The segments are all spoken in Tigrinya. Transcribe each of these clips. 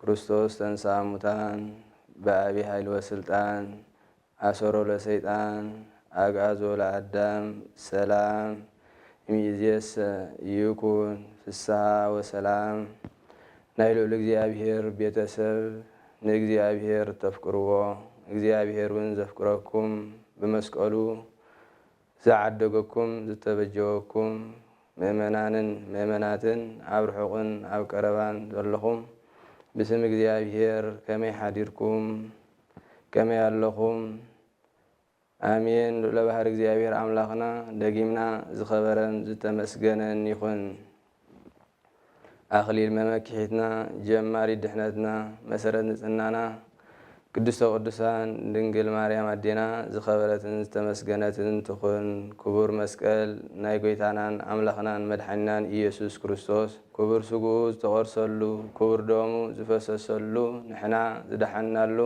ክርስቶስ ተንሥኣ እሙታን ብዓቢ ኃይሊ ወሥልጣን ኣሰሮ ለሰይጣን ኣግኣዞ ለኣዳም ሰላም እምይእዜሰ ይኩን ፍሥሓ ወሰላም ናይ ልዑል እግዚኣብሔር ቤተ ሰብ ንእግዚኣብሔር እተፍቅርዎ እግዚኣብሔርውን ዘፍቅረኩም ብመስቀሉ ዝዓደገኩም ዝተበጀወኩም ምእመናንን ምእመናትን ኣብ ርሑቕን ኣብ ቀረባን ዘለኹም ብስም እግዚኣብሔር ከመይ ሓዲርኩም ከመይ ኣለኹም ኣሜን ልዑለ ባህሪ እግዚኣብሔር ኣምላኽና ደጊምና ዝኸበረን ዝተመስገነን ይኹን። ኣኽሊል መመኪሒትና ጀማሪት ድሕነትና መሰረት ንጽህናና ቅድስተ ቅዱሳን ድንግል ማርያም ኣዴና ዝኸበረትን ዝተመስገነትን ትኹን ክቡር መስቀል ናይ ጎይታናን ኣምላኽናን መድሓኒናን ኢየሱስ ክርስቶስ ክቡር ስግኡ ዝተቖርሰሉ ክቡር ደሙ ዝፈሰሰሉ ንሕና ዝደሓንናሉ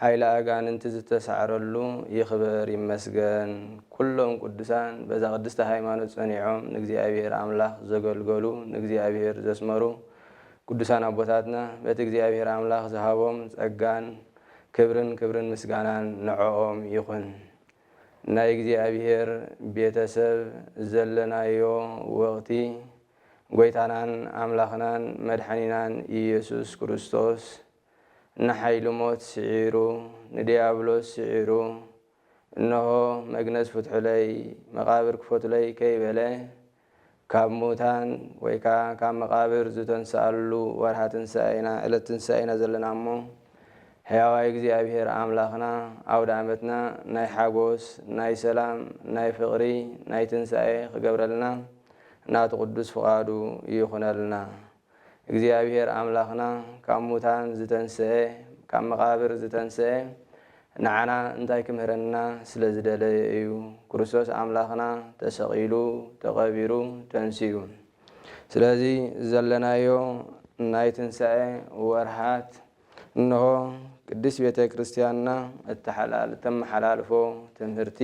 ሓይሊ ኣጋንንቲ ዝተሳዕረሉ ይክበር ይመስገን ኩሎም ቁዱሳን በዛ ቅድስቲ ሃይማኖት ጸኒዖም ንእግዚኣብሔር ኣምላክ ዘገልገሉ ንእግዚኣብሔር ዘስመሩ ቁዱሳን ኣቦታትና በቲ እግዚኣብሔር ኣምላክ ዝሃቦም ጸጋን ክብርን ክብርን ምስጋናን ንዖኦም ይኩን ናይ እግዚኣብሔር ቤተሰብ ዘለናዮ ወቅቲ ጎይታናን ኣምላክናን መድሓኒናን ኢየሱስ ክርስቶስ ንሓይሊ ሞት ስዒሩ፣ ንድያብሎስ ስዒሩ፣ እንሆ፣ መግነዝ ፍትሑለይ፣ መቓብር ክፈቱለይ ከይበለ፣ ካብ ሙታን ወይ ከኣ ካብ መቓብር ዝተንስኣሉ ወርኃ ትንሣኤ ኢና፣ ዕለት ትንሣኤ ኢና ዘለና እሞ፣ ሕያዋይ እግዚኣብሔር ኣምላኽና ኣውደኣመትና ናይ ሓጎስ፣ ናይ ሰላም፣ ናይ ፍቕሪ፣ ናይ ትንሣኤ ክገብረልና ናቱ ቅዱስ ፍቓዱ ይኹነልና። እግዚኣብሄር ኣምላኽና ካብ ሙታን ዝተንስኤ ካብ መቓብር ዝተንስኤ ንዓና እንታይ ክምህረና ስለ ዝደለየ እዩ ክርስቶስ ኣምላኽና ተሰቒሉ ተቐቢሩ ተንሲኡ ስለዚ ዘለናዮ ናይ ትንሳኤ ወርሃት እንሆ ቅድስት ቤተ ክርስቲያንና እተመሓላልፎ ትምህርቲ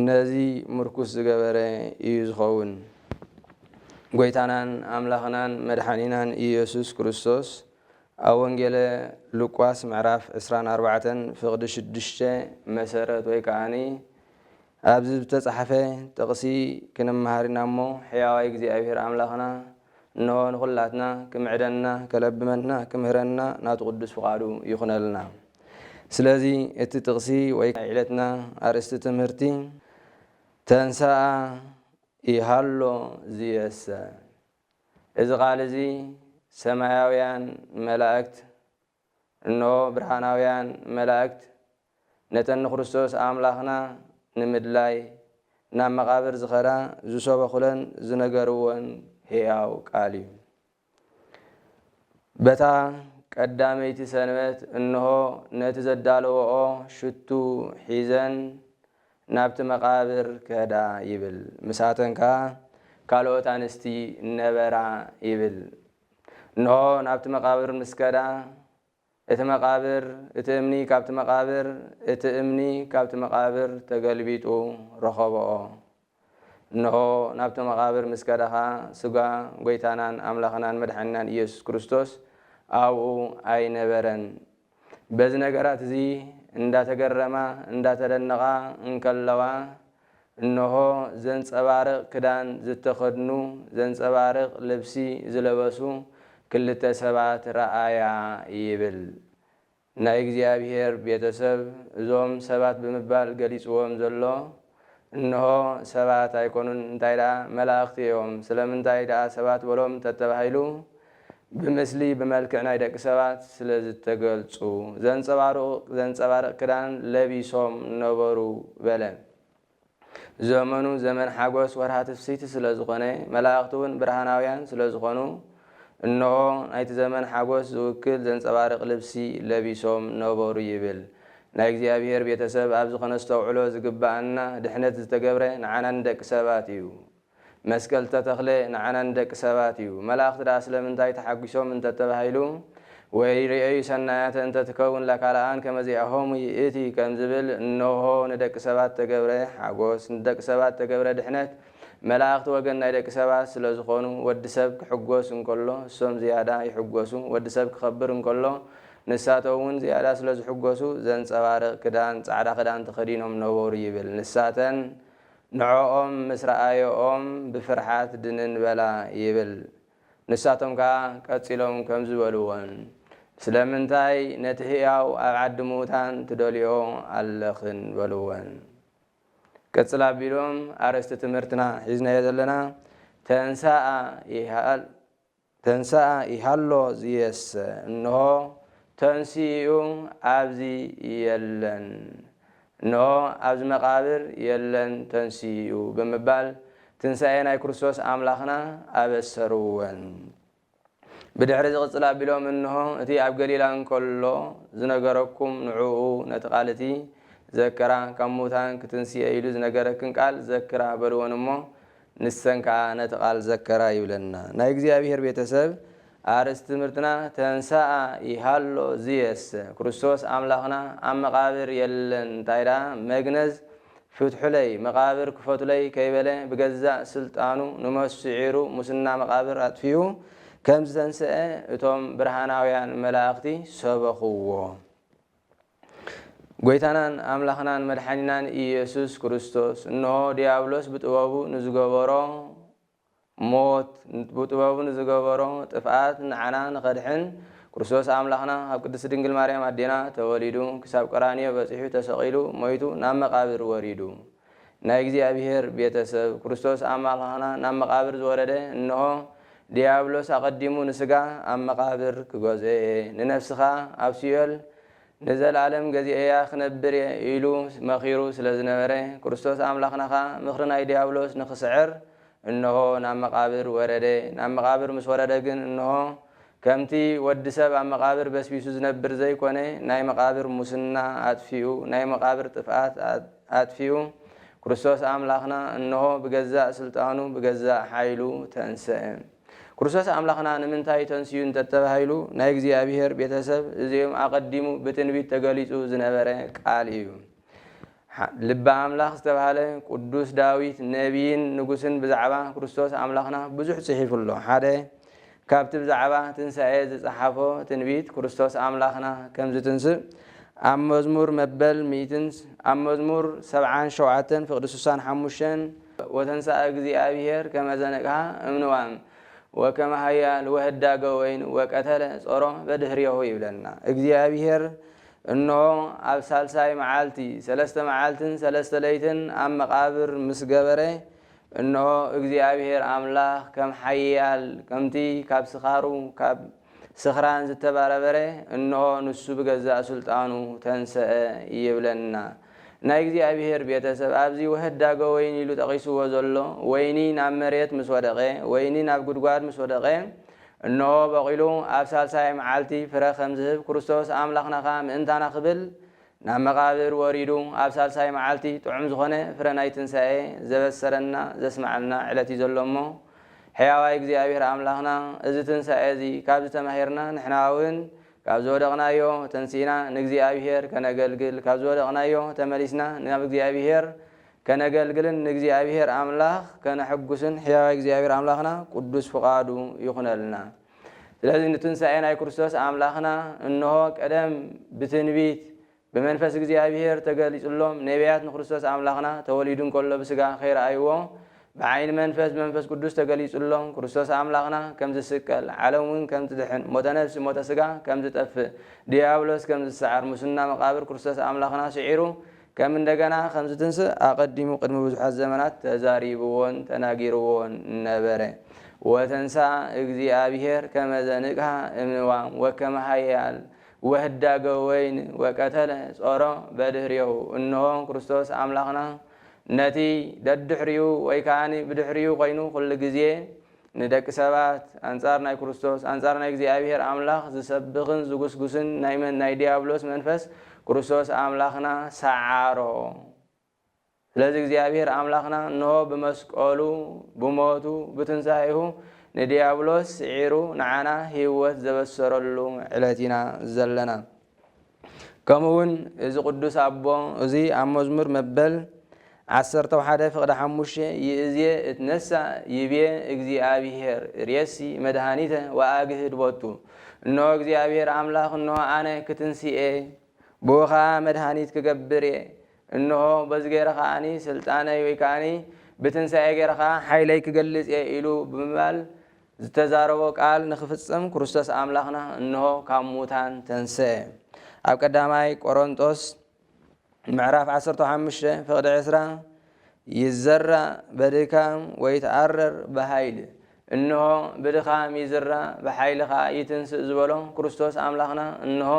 ነዚ ምርኩስ ዝገበረ ኢዩ ዝኸውን። ጐይታናን ኣምላኽናን መድሓኒናን ኢየሱስ ክርስቶስ ኣብ ወንጌለ ሉቃስ ምዕራፍ ዕስራን ኣርባዕተን ፍቕዲ ሽዱሽተ መሰረት ወይ ከኣ ኣብዚ ዝተጻሕፈ ጥቕሲ ክንመሃር ኢና እሞ፣ ሕያዋይ እግዚኣብሄር ኣምላኽና እንሆ ንኹላትና ክምዕደና፣ ከለብመና፣ ክምህረና ናቱ ቅዱስ ፍቓዱ ይኹነልና። ስለዚ እቲ ጥቕሲ ወይ ናይ ዕለትና ኣርእስቲ ትምህርቲ ተንሥኣ ኢሃሎ ዝየሰ እዚ ቃል እዚ ሰማያውያን መላእክት፣ እንሆ ብርሃናውያን መላእክት ነተን ንክርስቶስ ኣምላኽና ንምድላይ ናብ መቓብር ዝኸዳ ዝሰበኹለን ዝነገርወን ሕያው ቃል እዩ። በታ ቀዳመይቲ ሰንበት እንሆ ነቲ ዘዳለወኦ ሽቱ ሒዘን ናብቲ መቓብር ከዳ ይብል። ምሳተን ከኣ ካልኦት ኣንስቲ ነበራ ይብል። እንሆ ናብቲ መቓብር ምስ ከዳ፣ እቲ መቓብር፣ እቲ እምኒ ካብቲ መቓብር፣ እቲ እምኒ ካብቲ መቓብር ተገልቢጡ ረኸብኦ። እንሆ ናብቲ መቓብር ምስ ከዳ ኸኣ ሥጋ ጐይታናን ኣምላኽናን መድሓኒናን ኢየሱስ ክርስቶስ ኣብኡ ኣይነበረን። በዚ ነገራት እዚ እንዳተገረማ እንዳተደነቓ እንከለዋ እንሆ ዘንጸባርቕ ክዳን ዝተኸድኑ ዘንጸባርቕ ልብሲ ዝለበሱ ክልተ ሰባት ረኣያ ይብል ናይ እግዚኣብሄር ቤተሰብ እዞም ሰባት ብምባል ገሊጽዎም ዘሎ እንሆ፣ ሰባት ኣይኰኑን፣ እንታይ ደኣ፣ መላእኽቲ እዮም። ስለምንታይ ደኣ ሰባት በሎም እንተ ተባሂሉ፣ ብምስሊ፣ ብመልክዕ ናይ ደቂ ሰባት ስለ ዝተገልጹ፣ ዘንጸባርቑ ዘንጸባርቕ ክዳን ለቢሶም ነበሩ በለ። ዘመኑ ዘመን ሓጐስ ወርሃ ትፍስሕቲ ስለ ዝዀነ፣ መላእኽቲውን ብርሃናውያን ስለ ዝዀኑ፣ እነሆ ናይቲ ዘመን ሓጐስ ዝውክል ዘንጸባርቕ ልብሲ ለቢሶም ነበሩ ይብል። ናይ እግዚኣብሔር ቤተሰብ ኣብዚ ከነስተውዕሎ ዝግበኣና ድሕነት ዝተገብረ ንዓና ንደቂ ሰባት እዩ። መስቀል ዝተተኽለ ንዓና ንደቂ ሰባት እዩ። መላእኽቲ ደኣ ስለምንታይ ተሓጒሶም እንተተባሂሉ ወይ ርእዩ ሰናያተ እንተ ትከውን ለካልኣን ከመዚኣሆሙ ይእቲ ከምዝብል እነሆ ንደቂ ሰባት ዝተገብረ ሓጐስ ንደቂ ሰባት ዝተገብረ ድሕነት መላእኽቲ ወገን ናይ ደቂ ሰባት ስለ ዝኾኑ ወዲ ሰብ ክሕጎስ እንከሎ እሶም ዝያዳ ይሕጎሱ ወዲ ሰብ ክኸብር እንከሎ ንሳቶም እውን ዝያዳ ስለ ዝሕጎሱ ዘንጸባርቕ ክዳን ጻዕዳ ክዳን ተኸዲኖም ነበሩ ይብል ንሳተን ንዖኦም ምስ ረኣየኦም ብፍርሓት ድንን በላ ይብል ንሳቶም ከኣ ቀጺሎም ከምዚ በልወን ስለምንታይ ነቲ ሕያው ኣብ ዓዲ ምዉታን ትደልይኦ ኣለኽን በልወን። ቅጽል ኣቢሎም ኣርእስቲ ትምህርትና ሒዝናዮ ዘለና፣ ተንሥኣ ይሃል ተንሥኣ ይሃሎ ዝየሰ እንሆ ተንሲኡ ኣብዚ የለን እንሆ ኣብዚ መቃብር የለን ተንሲኡ ብምባል ትንሣኤ ናይ ክርስቶስ ኣምላኽና ኣበሰርወን። ብድሕርዚ ቅጽል ኣቢሎም እንሆ እቲ ኣብ ገሊላ እንከሎ ዝነገረኩም ንዕኡ ነቲ ቃል እቲ ዘክራ ካብ ምዉታን ክትንስኤ ኢሉ ዝነገረክን ቃል ዘክራ በልወን እሞ ንሰን ከኣ ነቲ ቃል ዘከራ ይብለና ናይ እግዚኣብሔር ቤተ ሰብ ኣርእስቲ ትምህርትና ተንሰኣ ይሃሎ ዝየሰ ክርስቶስ ኣምላኽና ኣብ መቃብር የለን እንታይ ደኣ መግነዝ ፍትሑለይ መቓብር ክፈቱለይ ከይበለ ብገዛእ ስልጣኑ ንሞት ስዒሩ ሙስና መቓብር ኣጥፊኡ ከም ዝተንሰኣ እቶም ብርሃናውያን መላእኽቲ ሰበኹዎ። ጐይታናን ኣምላኽናን መድሓኒናን ኢየሱስ ክርስቶስ እንሆ ድያብሎስ ብጥበቡ ንዝገበሮ ሞት ብጥበቡ ንዝገበሮ ጥፍኣት ንዓና ንኸድሕን ክርስቶስ ኣምላኽና ካብ ቅድስቲ ድንግል ማርያም ኣዴና ተወሊዱ ክሳብ ቀራንዮ በጺሑ ተሰቒሉ ሞይቱ ናብ መቓብር ወሪዱ ናይ እግዚኣብሔር ቤተ ሰብ ክርስቶስ ኣምላኽና ናብ መቓብር ዝወረደ እንሆ ድያብሎስ ኣቐዲሙ ንስጋ ኣብ መቓብር ክገዝኦ'የ ንነፍስኻ ኣብ ሲኦል ንዘለኣለም ገዚኤያ ክነብር እየ ኢሉ መኺሩ ስለ ዝነበረ፣ ክርስቶስ ኣምላኽና ኸኣ ምኽሪ ናይ ድያብሎስ ንኽስዕር እንሆ ናብ መቓብር ወረደ። ናብ መቓብር ምስ ወረደ ግን እንሆ ከምቲ ወዲ ሰብ ኣብ መቓብር በስቢሱ ዝነብር ዘይኮነ ናይ መቓብር ሙስና ኣጥፊኡ ናይ መቓብር ጥፍኣት ኣጥፊኡ ክርስቶስ ኣምላኽና እንሆ ብገዛእ ስልጣኑ ብገዛእ ሓይሉ ተንሰእ። ክርስቶስ ኣምላኽና ንምንታይ ተንስኡ እንተተባሂሉ ናይ እግዚኣብሔር ቤተሰብ እዚኦም ኣቐዲሙ ብትንቢት ተገሊጹ ዝነበረ ቃል እዩ። ልበ ኣምላኽ ዝተባህለ ቅዱስ ዳዊት ነቢይን ንጉስን ብዛዕባ ክርስቶስ ኣምላኽና ብዙሕ ጽሒፉ ኣሎ። ሓደ ካብቲ ብዛዕባ ትንሳኤ ዝጸሓፎ ትንቢት ክርስቶስ ኣምላኽና ከም ዝትንስእ ኣብ መዝሙር መበል ሚእትን ኣብ መዝሙር ሰብዓን ሸውዓተን ፍቕዲ ስሳን ሓሙሽተን ወተንሥኣ እግዚኣቢሔር ከመ ዘነቅኀ እምንዋም ወከመ ኃያል ወህዳገ ወይን ወቀተለ ጾሮ በድኅሬሁ ይብለና እግዚኣቢሔር እንሆ ኣብ ሣልሳይ መዓልቲ ሠለስተ መዓልትን ሠለስተ ለይትን ኣብ መቃብር ምስ ገበረ እንሆ እግዚኣቢሔር ኣምላኽ ከም ኃያል ከምቲ ካብ ስካሩ ካብ ስኽራን ዝተባረበረ እንሆ ንሱ ብገዛእ ሥልጣኑ ተንሥአ ይብለና። ናይ እግዚኣብሔር ቤተ ሰብ ኣብዚ ወህዳገ ወይኒ ኢሉ ጠቒስዎ ዘሎ ወይኒ ናብ መሬት ምስ ወደቐ ወይኒ ናብ ጉድጓድ ምስ ወደቐ እንሆ በቒሉ ኣብ ሣልሳይ መዓልቲ ፍረ ከም ዝህብ ክርስቶስ ኣምላኽና ከኣ ምእንታና ክብል ናብ መቓብር ወሪዱ ኣብ ሳልሳይ መዓልቲ ጥዑም ዝኾነ ፍረ ናይ ትንሣኤ ዘበሰረና ዘስመዓልና ዕለት እዩ ዘሎ እሞ ሕያዋይ እግዚኣብሔር ኣምላኽና እዚ ትንሣኤ እዚ ካብዚ ተማሂርና ንሕናውን ካብ ዝወደቕናዮ ተንሲእና ንእግዚኣብሔር ከነገልግል ካብ ዝወደቕናዮ ተመሊስና ናብ እግዚኣብሔር ከነገልግልን ንእግዚኣብሔር ኣምላኽ ከነሕጉስን ሕያዋይ እግዚኣብሔር ኣምላኽና ቅዱስ ፍቓዱ ይኹነልና። ስለዚ ንትንሳኤ ናይ ክርስቶስ ኣምላኽና እንሆ ቀደም ብትንቢት ብመንፈስ እግዚኣብሔር ተገሊጹሎም ነቢያት ንክርስቶስ ኣምላኽና ተወሊዱ እንከሎ ብስጋ ከይረኣይዎ ብዓይኒ መንፈስ ብመንፈስ ቅዱስ ተገሊጹሎም ክርስቶስ ኣምላኽና ከም ዝስቀል ዓለም እውን ከም ትድሕን ሞተ ነፍሲ ሞተ ስጋ ከም ዝጠፍእ ድያብሎስ ከም ዝሰዓር ሙስና መቃብር ክርስቶስ ኣምላኽና ስዒሩ ከም እንደገና ኸም ዚትንስእ ኣቐዲሙ ቕድሚ ብዙሓት ዘመናት ተዛሪብዎን ተናጊርዎን ነበረ። ወተንሥኣ እግዚኣብሔር ከመ ዘንቅኀ እምንዋም ወከመ ኃያል ወህዳገ ወይን ወቀተለ ጾሮ በድኅሬሁ እንሆ ክርስቶስ ኣምላኽና ነቲ ደድኅሪኡ ወይ ከኣ ብድኅሪኡ ኮይኑ ኵሉ ጊዜ ንደቂ ሰባት ኣንጻር ናይ ክርስቶስ፣ ኣንጻር ናይ እግዚኣብሔር ኣምላኽ ዝሰብኽን ዝጉስጉስን ናይ መን ናይ ዲያብሎስ መንፈስ ክርስቶስ ኣምላኽና ሰዓሮ። ስለዚ እግዚኣብሔር ኣምላኽና እንሆ ብመስቀሉ ብሞቱ ብትንሣኤሁ ንዲያብሎስ ስዒሩ ንዓና ሕይወት ዘበሰረሉ ዕለት ኢና ዘለና። ከምኡውን እዚ ቅዱስ ኣቦ እዙይ ኣብ መዝሙር መበል ዓሰርተ ሓደ ፍቕዲ ሓሙሽተ ይእዜ እትነሳእ ይቤ እግዚኣብሔር ሬሲ መድሃኒተ ወኣግህድ ቦቱ እንሆ እግዚኣብሔር ኣምላኽ እንሆ ኣነ ክትንስኤ ብኡ ኸዓ መድሃኒት ክገብር እየ እንሆ በዚ ገይረ ከዓኒ ስልጣነይ ወይ ከዓኒ ብትንሳኤ ገይረ ከዓ ሓይለይ ክገልፅ እየ ኢሉ ብምባል ዝተዛረቦ ቃል ንክፍጽም ክርስቶስ ኣምላኽና እንሆ ካብ ሙታን ተንሥኤ። ኣብ ቀዳማይ ቆሮንጦስ ምዕራፍ ዓሰርተ ሓሙሽተ ፍቕዲ ዕስራ ይዘራ በድካም ወይትኣረር ብኃይል እንሆ ብድኻም ይዝራ ብኃይሊ ከኣ ይትንሥእ ዝበሎ ክርስቶስ ኣምላኽና እንሆ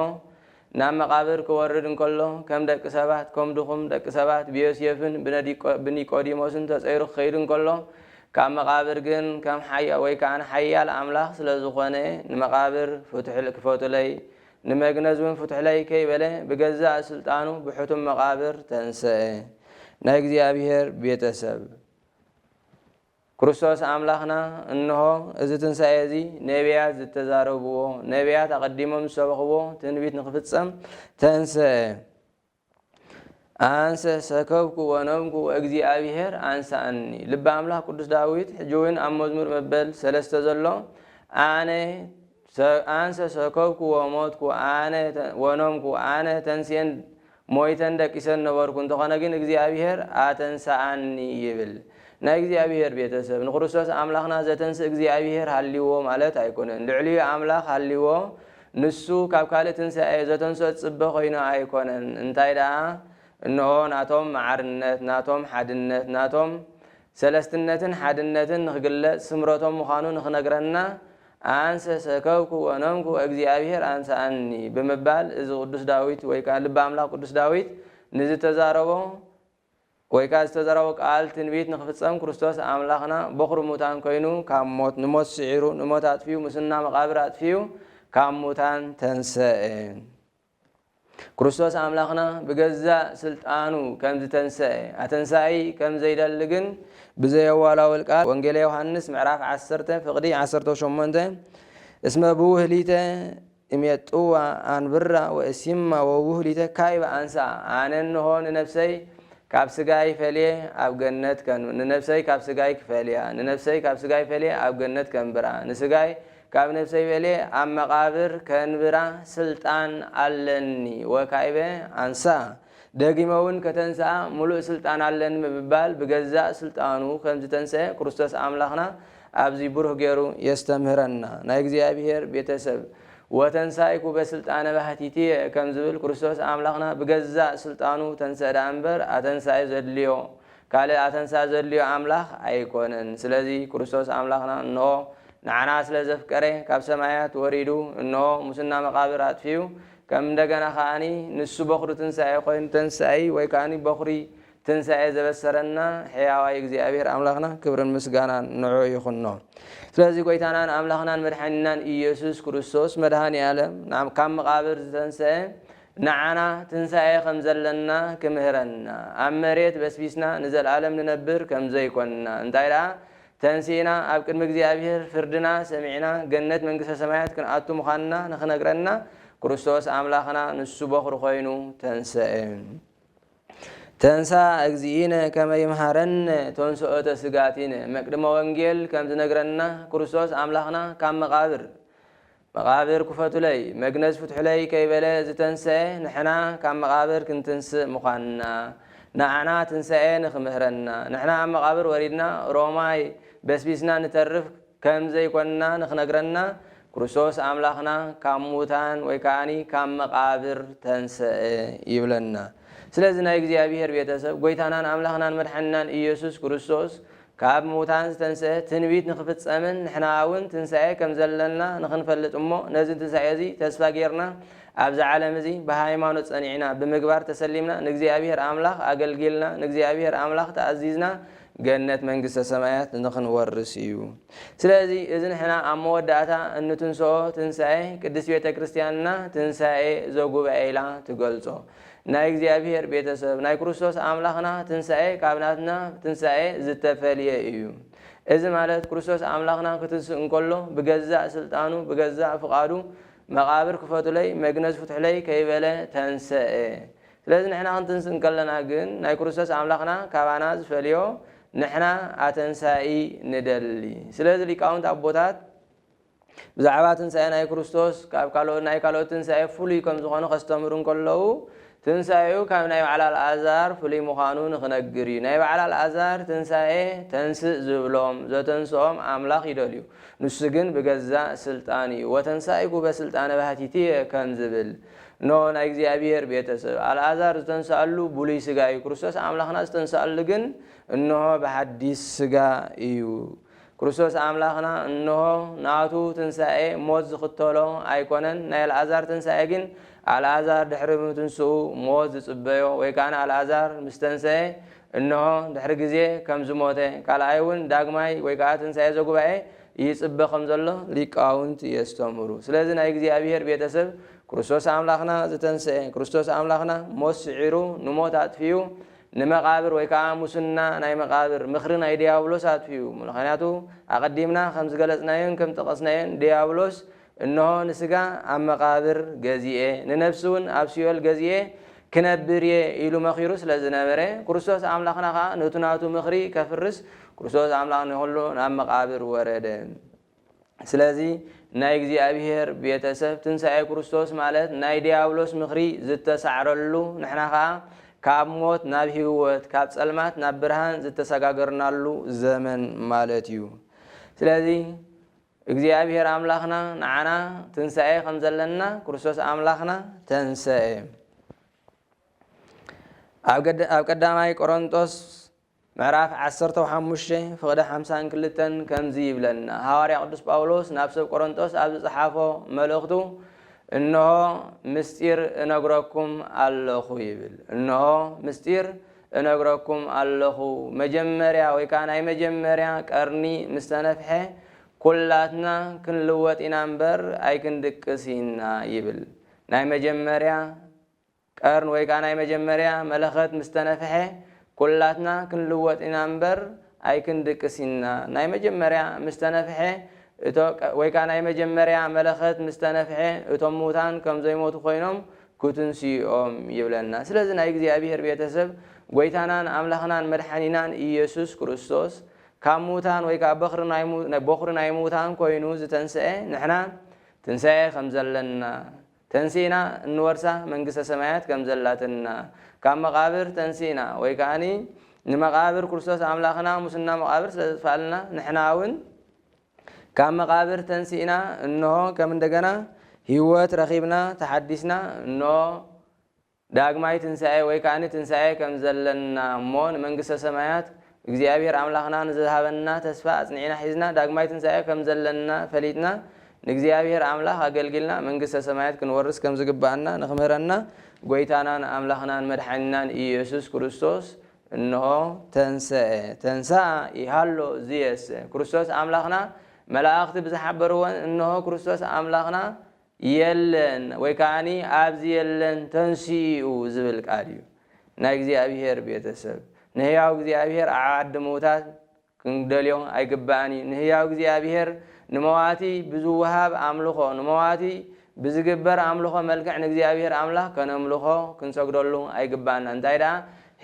ናብ መቓብር ክወርድ እንከሎ ከም ደቂ ሰባት ኮም ድኹም ደቂ ሰባት ብዮስየፍን ብኒቆዲሞስን ተጸይሩ ክኸይድ እንከሎ ካብ መቓብር ግን ከም ሓያ ወይ ከኣ ሓያል ኣምላኽ ስለ ዝኾነ ንመቓብር ፍቱሕል ክፈቱለይ ንመግነዝ ውን ፍቱሕለይ ከይበለ ብገዛእ ስልጣኑ ብሕቱም መቓብር ተንሰኤ ናይ እግዚኣብሔር ቤተሰብ ክርስቶስ ኣምላኽና እንሆ እዚ ትንሣኤ እዚ ነቢያት ዝተዛረብዎ፣ ነቢያት ኣቐዲሞም ዝሰበኽዎ ትንቢት ንኽፍጸም ተንሥአ። ኣንሰ ሰከብኩ ወነምኩ ወእግዚኣብሔር ኣንሥኣኒ። ልበ ኣምላኽ ቅዱስ ዳዊት ሕጂውን ኣብ መዝሙር መበል ሰለስተ ዘሎ ኣነ፣ ሰብኣንሰ ሰከብኩ ወሞትኩ ኣነ ወኖምኩ ኣነ ተንስኤን ሞይተን ደቂሰን ነበርኩ እንተኾነ ግን እግዚኣብሔር ኣተንሰኣኒ ይብል። ናይ እግዚኣብሔር ቤተሰብ ንክርስቶስ ኣምላኽና ዘተንስእ እግዚኣብሔር ሃልይዎ ማለት ኣይኮነን ልዕሊኡ ኣምላኽ ሃልይዎ ንሱ ካብ ካልእ ትንሳኤ ዘተንስኦ ዝጽበ ኮይኑ ኣይኮነን እንታይ ደኣ እንሆ ናቶም ማዕርነት ናቶም ሓድነት ናቶም ሰለስትነትን ሓድነትን ንክግለጽ ስምረቶም ምዃኑ ንክነግረና ኣንሰ ሰከብኩ ወነንኩ ወእግዚኣብሔር ኣንሰኣኒ ብምባል እዚ ቅዱስ ዳዊት ወይ ከኣ ልበ ኣምላኽ ቅዱስ ዳዊት ንዝተዛረቦ ወይ ከኣ ዝተዘረቦ ቃል ትንቢት ንክፍጸም ክርስቶስ ኣምላኽና ቦኽሪ ሙታን ኮይኑ ካብ ሞት ንሞት ስዒሩ ንሞት ኣጥፊኡ ሙስና መቓብር ኣጥፊኡ ካብ ሙታን ተንሰኤ። ክርስቶስ ኣምላኽና ብገዛእ ስልጣኑ ከም ዝተንሰኤ ኣተንሳኢ ከም ዘይደሊ ግን ብዘየዋላውል ቃል ወንጌለ ዮሃንስ ምዕራፍ ዓሰርተ ፍቕዲ ዓሰርተ ሸሞንተ እስመ ብውህሊተ እሜጥዋ ኣንብራ ወእሲማ ወብውህሊተ ካይበ ኣንሳ ኣነ እንሆ ንነብሰይ ካብ ስጋይ ፈልየ ኣብ ገነት ንነብሰይ ካብ ስጋይ ክፈልያ ንነብሰይ ካብ ስጋይ ፈልየ ኣብ ገነት ከንብራ ንስጋይ ካብ ነፍሰይ በልየ ኣብ መቓብር ከንብራ ስልጣን ኣለኒ ወካይበ ኣንሳ ደጊመውን ከተንስኣ ምሉእ ስልጣን ኣለኒ ብምባል ብገዛእ ስልጣኑ ከምዝተንሰኤ ክርስቶስ ኣምላኽና ኣብዚ ብሩህ ገሩ የስተምህረና ናይ እግዚኣብሔር ቤተሰብ ወተንሳይኩ በስልጣነ ባህቲትየ ከምዝብል ክርስቶስ ኣምላኽና ብገዛእ ስልጣኑ ተንሰእ ደኣምበር ኣተንሳኢ ዘድልዮ ካልእ ኣተንሳ ዘድልዮ ኣምላኽ ኣይኮነን። ስለዚ ክርስቶስ ኣምላኽና እንሆ ንዓና ስለ ዘፍቀረ ካብ ሰማያት ወሪዱ እንሆ ሙስና መቓብር ኣጥፊኡ ከም እንደገና ከኣ ንሱ በኵሪ ትንሳኤ ኮይኑ ተንስኢ ወይ ከኣ በኵሪ ትንሳኤ ዘበሰረና ሕያዋይ እግዚኣብሔር ኣምላኽና ክብርን ምስጋናን ንዑ ይኹኖ። ስለዚ ጎይታናን ኣምላኽናን መድሓኒናን ኢየሱስ ክርስቶስ መድሃኒኣለም ካብ መቓብር ዝተንስኤ ንዓና ትንሳኤ ከም ዘለና ክምህረና፣ ኣብ መሬት በስቢስና ንዘልኣለም ንነብር ከም ዘይኮንና፣ እንታይ ደኣ ተንሲእና ኣብ ቅድሚ እግዚኣብሔር ፍርድና ሰሚዕና ገነት መንግስተ ሰማያት ክንኣቱ ምዃንና ንኽነግረና ክርስቶስ ኣምላኽና ንሱ በዅሪ ኮይኑ ተንሰኤ። ተንሥኣ እግዚእነ ከመ ይምሃረነ ተንሥኦተ ሥጋቲነ መቅድመ ወንጌል ከም ዝነግረና ክርስቶስ ኣምላኽና ካብ መቓብር መቓብር ክፈቱለይ መግነዝ ፍትሑለይ ከይበለ ዝተንሰኤ ንሕና ካብ መቓብር ክንትንስእ ምዃንና ንዓና ትንሳኤ ንክምህረና ንሕና ኣብ መቓብር ወሪድና ሮማይ በስቢስና ንተርፍ ከም ዘይኮንና ንክነግረና ክርስቶስ ኣምላኽና ካብ ሙታን ወይ ከኣ ካብ መቓብር ተንሰኤ ይብለና ስለዚ ናይ እግዚኣብሔር ቤተሰብ ጎይታናን ኣምላኽናን መድሓኒናን ኢየሱስ ክርስቶስ ካብ ምዉታን ዝተንስኤ ትንቢት ንኽፍጸምን ንሕና እውን ትንሳኤ ከም ዘለና ንኽንፈልጥ እሞ ነዚ ትንሳኤ እዚ ተስፋ ገይርና ኣብዚ ዓለም እዚ ብሃይማኖት ጸኒዕና ብምግባር ተሰሊምና ንእግዚኣብሄር ኣምላኽ ኣገልጊልና ንእግዚኣብሄር ኣምላኽ ተኣዚዝና ገነት መንግስተ ሰማያት ንኽንወርስ እዩ። ስለዚ እዚ ንሕና ኣብ መወዳእታ እንትንስኦ ትንሳኤ ቅድስት ቤተ ክርስቲያንና ትንሳኤ ዘጉባኤ ኢላ ትገልጾ። ናይ እግዚኣብሔር ቤተሰብ ናይ ክርስቶስ ኣምላኽና ትንሣኤ ካብ ናትና ትንሣኤ ዝተፈልየ እዩ። እዚ ማለት ክርስቶስ ኣምላኽና ክትንስእ እንከሎ ብገዛእ ሥልጣኑ ብገዛእ ፍቓዱ መቓብር ክፈቱለይ መግነዝ ፍትሑለይ ከይበለ ተንሠኤ። ስለዚ ንሕና ክንትንስእ እንከለና ግን ናይ ክርስቶስ ኣምላኽና ካባና ዝፈልዮ ንሕና ኣተንሣኢ ንደሊ። ስለዚ ሊቃውንት ኣቦታት ብዛዕባ ትንሳኤ ናይ ክርስቶስ ካብ ካልኦት ናይ ካልኦት ትንሳኤ ፍሉይ ከም ዝዀነ ከስተምህሩ እንከለዉ፣ ትንሳኤኡ ካብ ናይ በዓል ኣልኣዛር ፍሉይ ምዃኑ ንኽነግር እዩ። ናይ በዓል ኣልኣዛር ትንሳኤ ተንሥእ ዝብሎም፣ ዘተንሥኦም ኣምላኽ ይደልዩ፣ ንሱ ግን ብገዛእ ሥልጣኑ እዩ፣ ወተንሣኢኩ በሥልጣነ ባሕቲትየ ከም ዝብል። እነሆ ናይ እግዚኣብሔር ቤተ ሰብ፣ ኣልኣዛር ዝተንሥኣሉ ብሉይ ሥጋ እዩ፣ ክርስቶስ ኣምላኽና ዝተንሥኣሉ ግን እነሆ ብሓዲስ ሥጋ እዩ። ክርስቶስ ኣምላኽና እንሆ ናቱ ትንሳኤ ሞት ዝኽተሎ ኣይኮነን፣ ናይ ኣልኣዛር ትንሳኤ ግን ኣልኣዛር ድሕሪ ምትንስኡ ሞት ዝጽበዮ ወይ ከኣ ኣልኣዛር ምስ ተንሰኤ እንሆ ድሕሪ ግዜ ከም ዝሞተ ካልኣይ እውን ዳግማይ ወይ ከኣ ትንሳኤ ዘጉባኤ ይጽበ ከም ዘሎ ሊቃውንት የስተምሩ። ስለዚ ናይ እግዚኣብሔር ቤተ ሰብ ክርስቶስ ኣምላኽና ዝተንሰኤ ክርስቶስ ኣምላኽና ሞት ስዒሩ ንሞት ኣጥፊኡ ንመቓብር ወይ ከኣ ሙስና ናይ መቓብር ምኽሪ ናይ ድያብሎስ ኣጥፊኡ። ምልኸንያቱ ኣቐዲምና ከም ዝገለጽናዮን ከም ዝጠቐስናዮን ድያብሎስ እንሆ ንስጋ ኣብ መቓብር ገዚኤ ንነፍሲውን ኣብ ሲኦል ገዚኤ ክነብር እየ ኢሉ መኺሩ ስለ ዝነበረ ክርስቶስ ኣምላኽና ከኣ ነቱ ናቱ ምኽሪ ከፍርስ ክርስቶስ ኣምላኽ ንኹሉ ናብ መቓብር ወረደ። ስለዚ ናይ እግዚኣብሔር ቤተ ሰብ ትንሣኤ ክርስቶስ ማለት ናይ ዲያብሎስ ምኽሪ ዝተሳዕረሉ ንሕና ኸኣ ካብ ሞት ናብ ሕይወት ካብ ጸልማት ናብ ብርሃን ዝተሰጋገርናሉ ዘመን ማለት እዩ። ስለዚ እግዚኣብሔር ኣምላኽና ንዓና ትንሣኤ ከም ዘለና ክርስቶስ ኣምላኽና ተንሰኤ። ኣብ ቀዳማይ ቆሮንጦስ ምዕራፍ ዓሰርተው ሓሙሽተ ፍቕደ ሓምሳን ክልተን ከምዚ ይብለና፣ ሃዋርያ ቅዱስ ጳውሎስ ናብ ሰብ ቈረንቶስ ኣብ ዝጸሓፎ መልእኽቱ እንሆ ምስጢር እነግረኩም ኣለኹ ይብል። እንሆ ምስጢር እነግረኩም ኣለኹ፣ መጀመርያ ወይ ከኣ ናይ መጀመርያ ቀርኒ ምስ ተነፍሐ ኵላትና ክንልወጥ ኢና እምበር ኣይክንድቅስ ኢና ይብል። ናይ መጀመርያ። ቀርን ወይ ከኣ ናይ መጀመርያ መለኸት ምስ ተነፍሐ ኩላትና ክንልወጥ ኢና እምበር ኣይክንድቅስን ኢና። ናይ መጀመርያ ምስ ተነፍሐ እቶ ወይ ከኣ ናይ መጀመርያ መለኸት ምስ ተነፍሐ እቶም ምዉታን ከም ዘይሞቱ ኮይኖም ክትንስኡ እዮም ይብለና። ስለዚ ናይ እግዚኣብሄር ቤተሰብ ጎይታናን ኣምላኽናን መድሓኒናን ኢየሱስ ክርስቶስ ካብ ምዉታን ወይ ከኣ በኽሪ ናይ ቦኽሪ ናይ ምዉታን ኮይኑ ዝተንስኤ ንሕና ትንሳኤ ከም ዘለና ተንሲእና እንወርሳ መንግስተ ሰማያት ከም ዘላትን እና ካብ መቓብር ተንሲእና ወይ ከኣኒ ንመቓብር ክርስቶስ ኣምላኽና ሙስና መቓብር ስለ ዘጥፋልና ንሕና እውን ካብ መቓብር ተንሲእና እንሆ ከም እንደገና ህይወት ረኺብና ተሓዲስና እንሆ ዳግማይ ትንሣኤ ወይ ከኣ ትንሣኤ ከም ዘለና እሞ ንመንግሥተ ሰማያት እግዚኣብሔር ኣምላኽና ንዝሃበና ተስፋ ኣጽኒዕና ሒዝና ዳግማይ ትንሣኤ ከም ዘለና ፈሊጥና ንእግዚኣብሔር ኣምላኽ ኣገልጊልና መንግሥተ ሰማያት ክንወርስ ከም ዝግብኣና ንክምህረና ጐይታናን ኣምላኽናን መድሓኒናን ኢየሱስ ክርስቶስ እንሆ ተንሥኤ ተንሥኣ ይሃሎ ዝየሰ ክርስቶስ ኣምላኽና መላእኽቲ ብዝሓበርዎን እንሆ ክርስቶስ ኣምላኽና የለን ወይ ከኣኒ ኣብዚ የለን ተንሲኡ ዝብል ቃል እዩ ናይ እግዚኣብሔር ቤተሰብ ንሕያው እግዚኣብሔር ኣብ ዓዲ ምውታት ክንደልዮ ኣይግባእን እዩ ንሕያው እግዚኣብሔር ንመዋቲ ብዝወሃብ ኣምልኾ ንመዋቲ ብዝግበር ኣምልኾ መልክዕ ንእግዚኣብሔር ኣምላኽ ከነምልኾ ክንሰግደሉ ኣይግባእና እንታይ ደኣ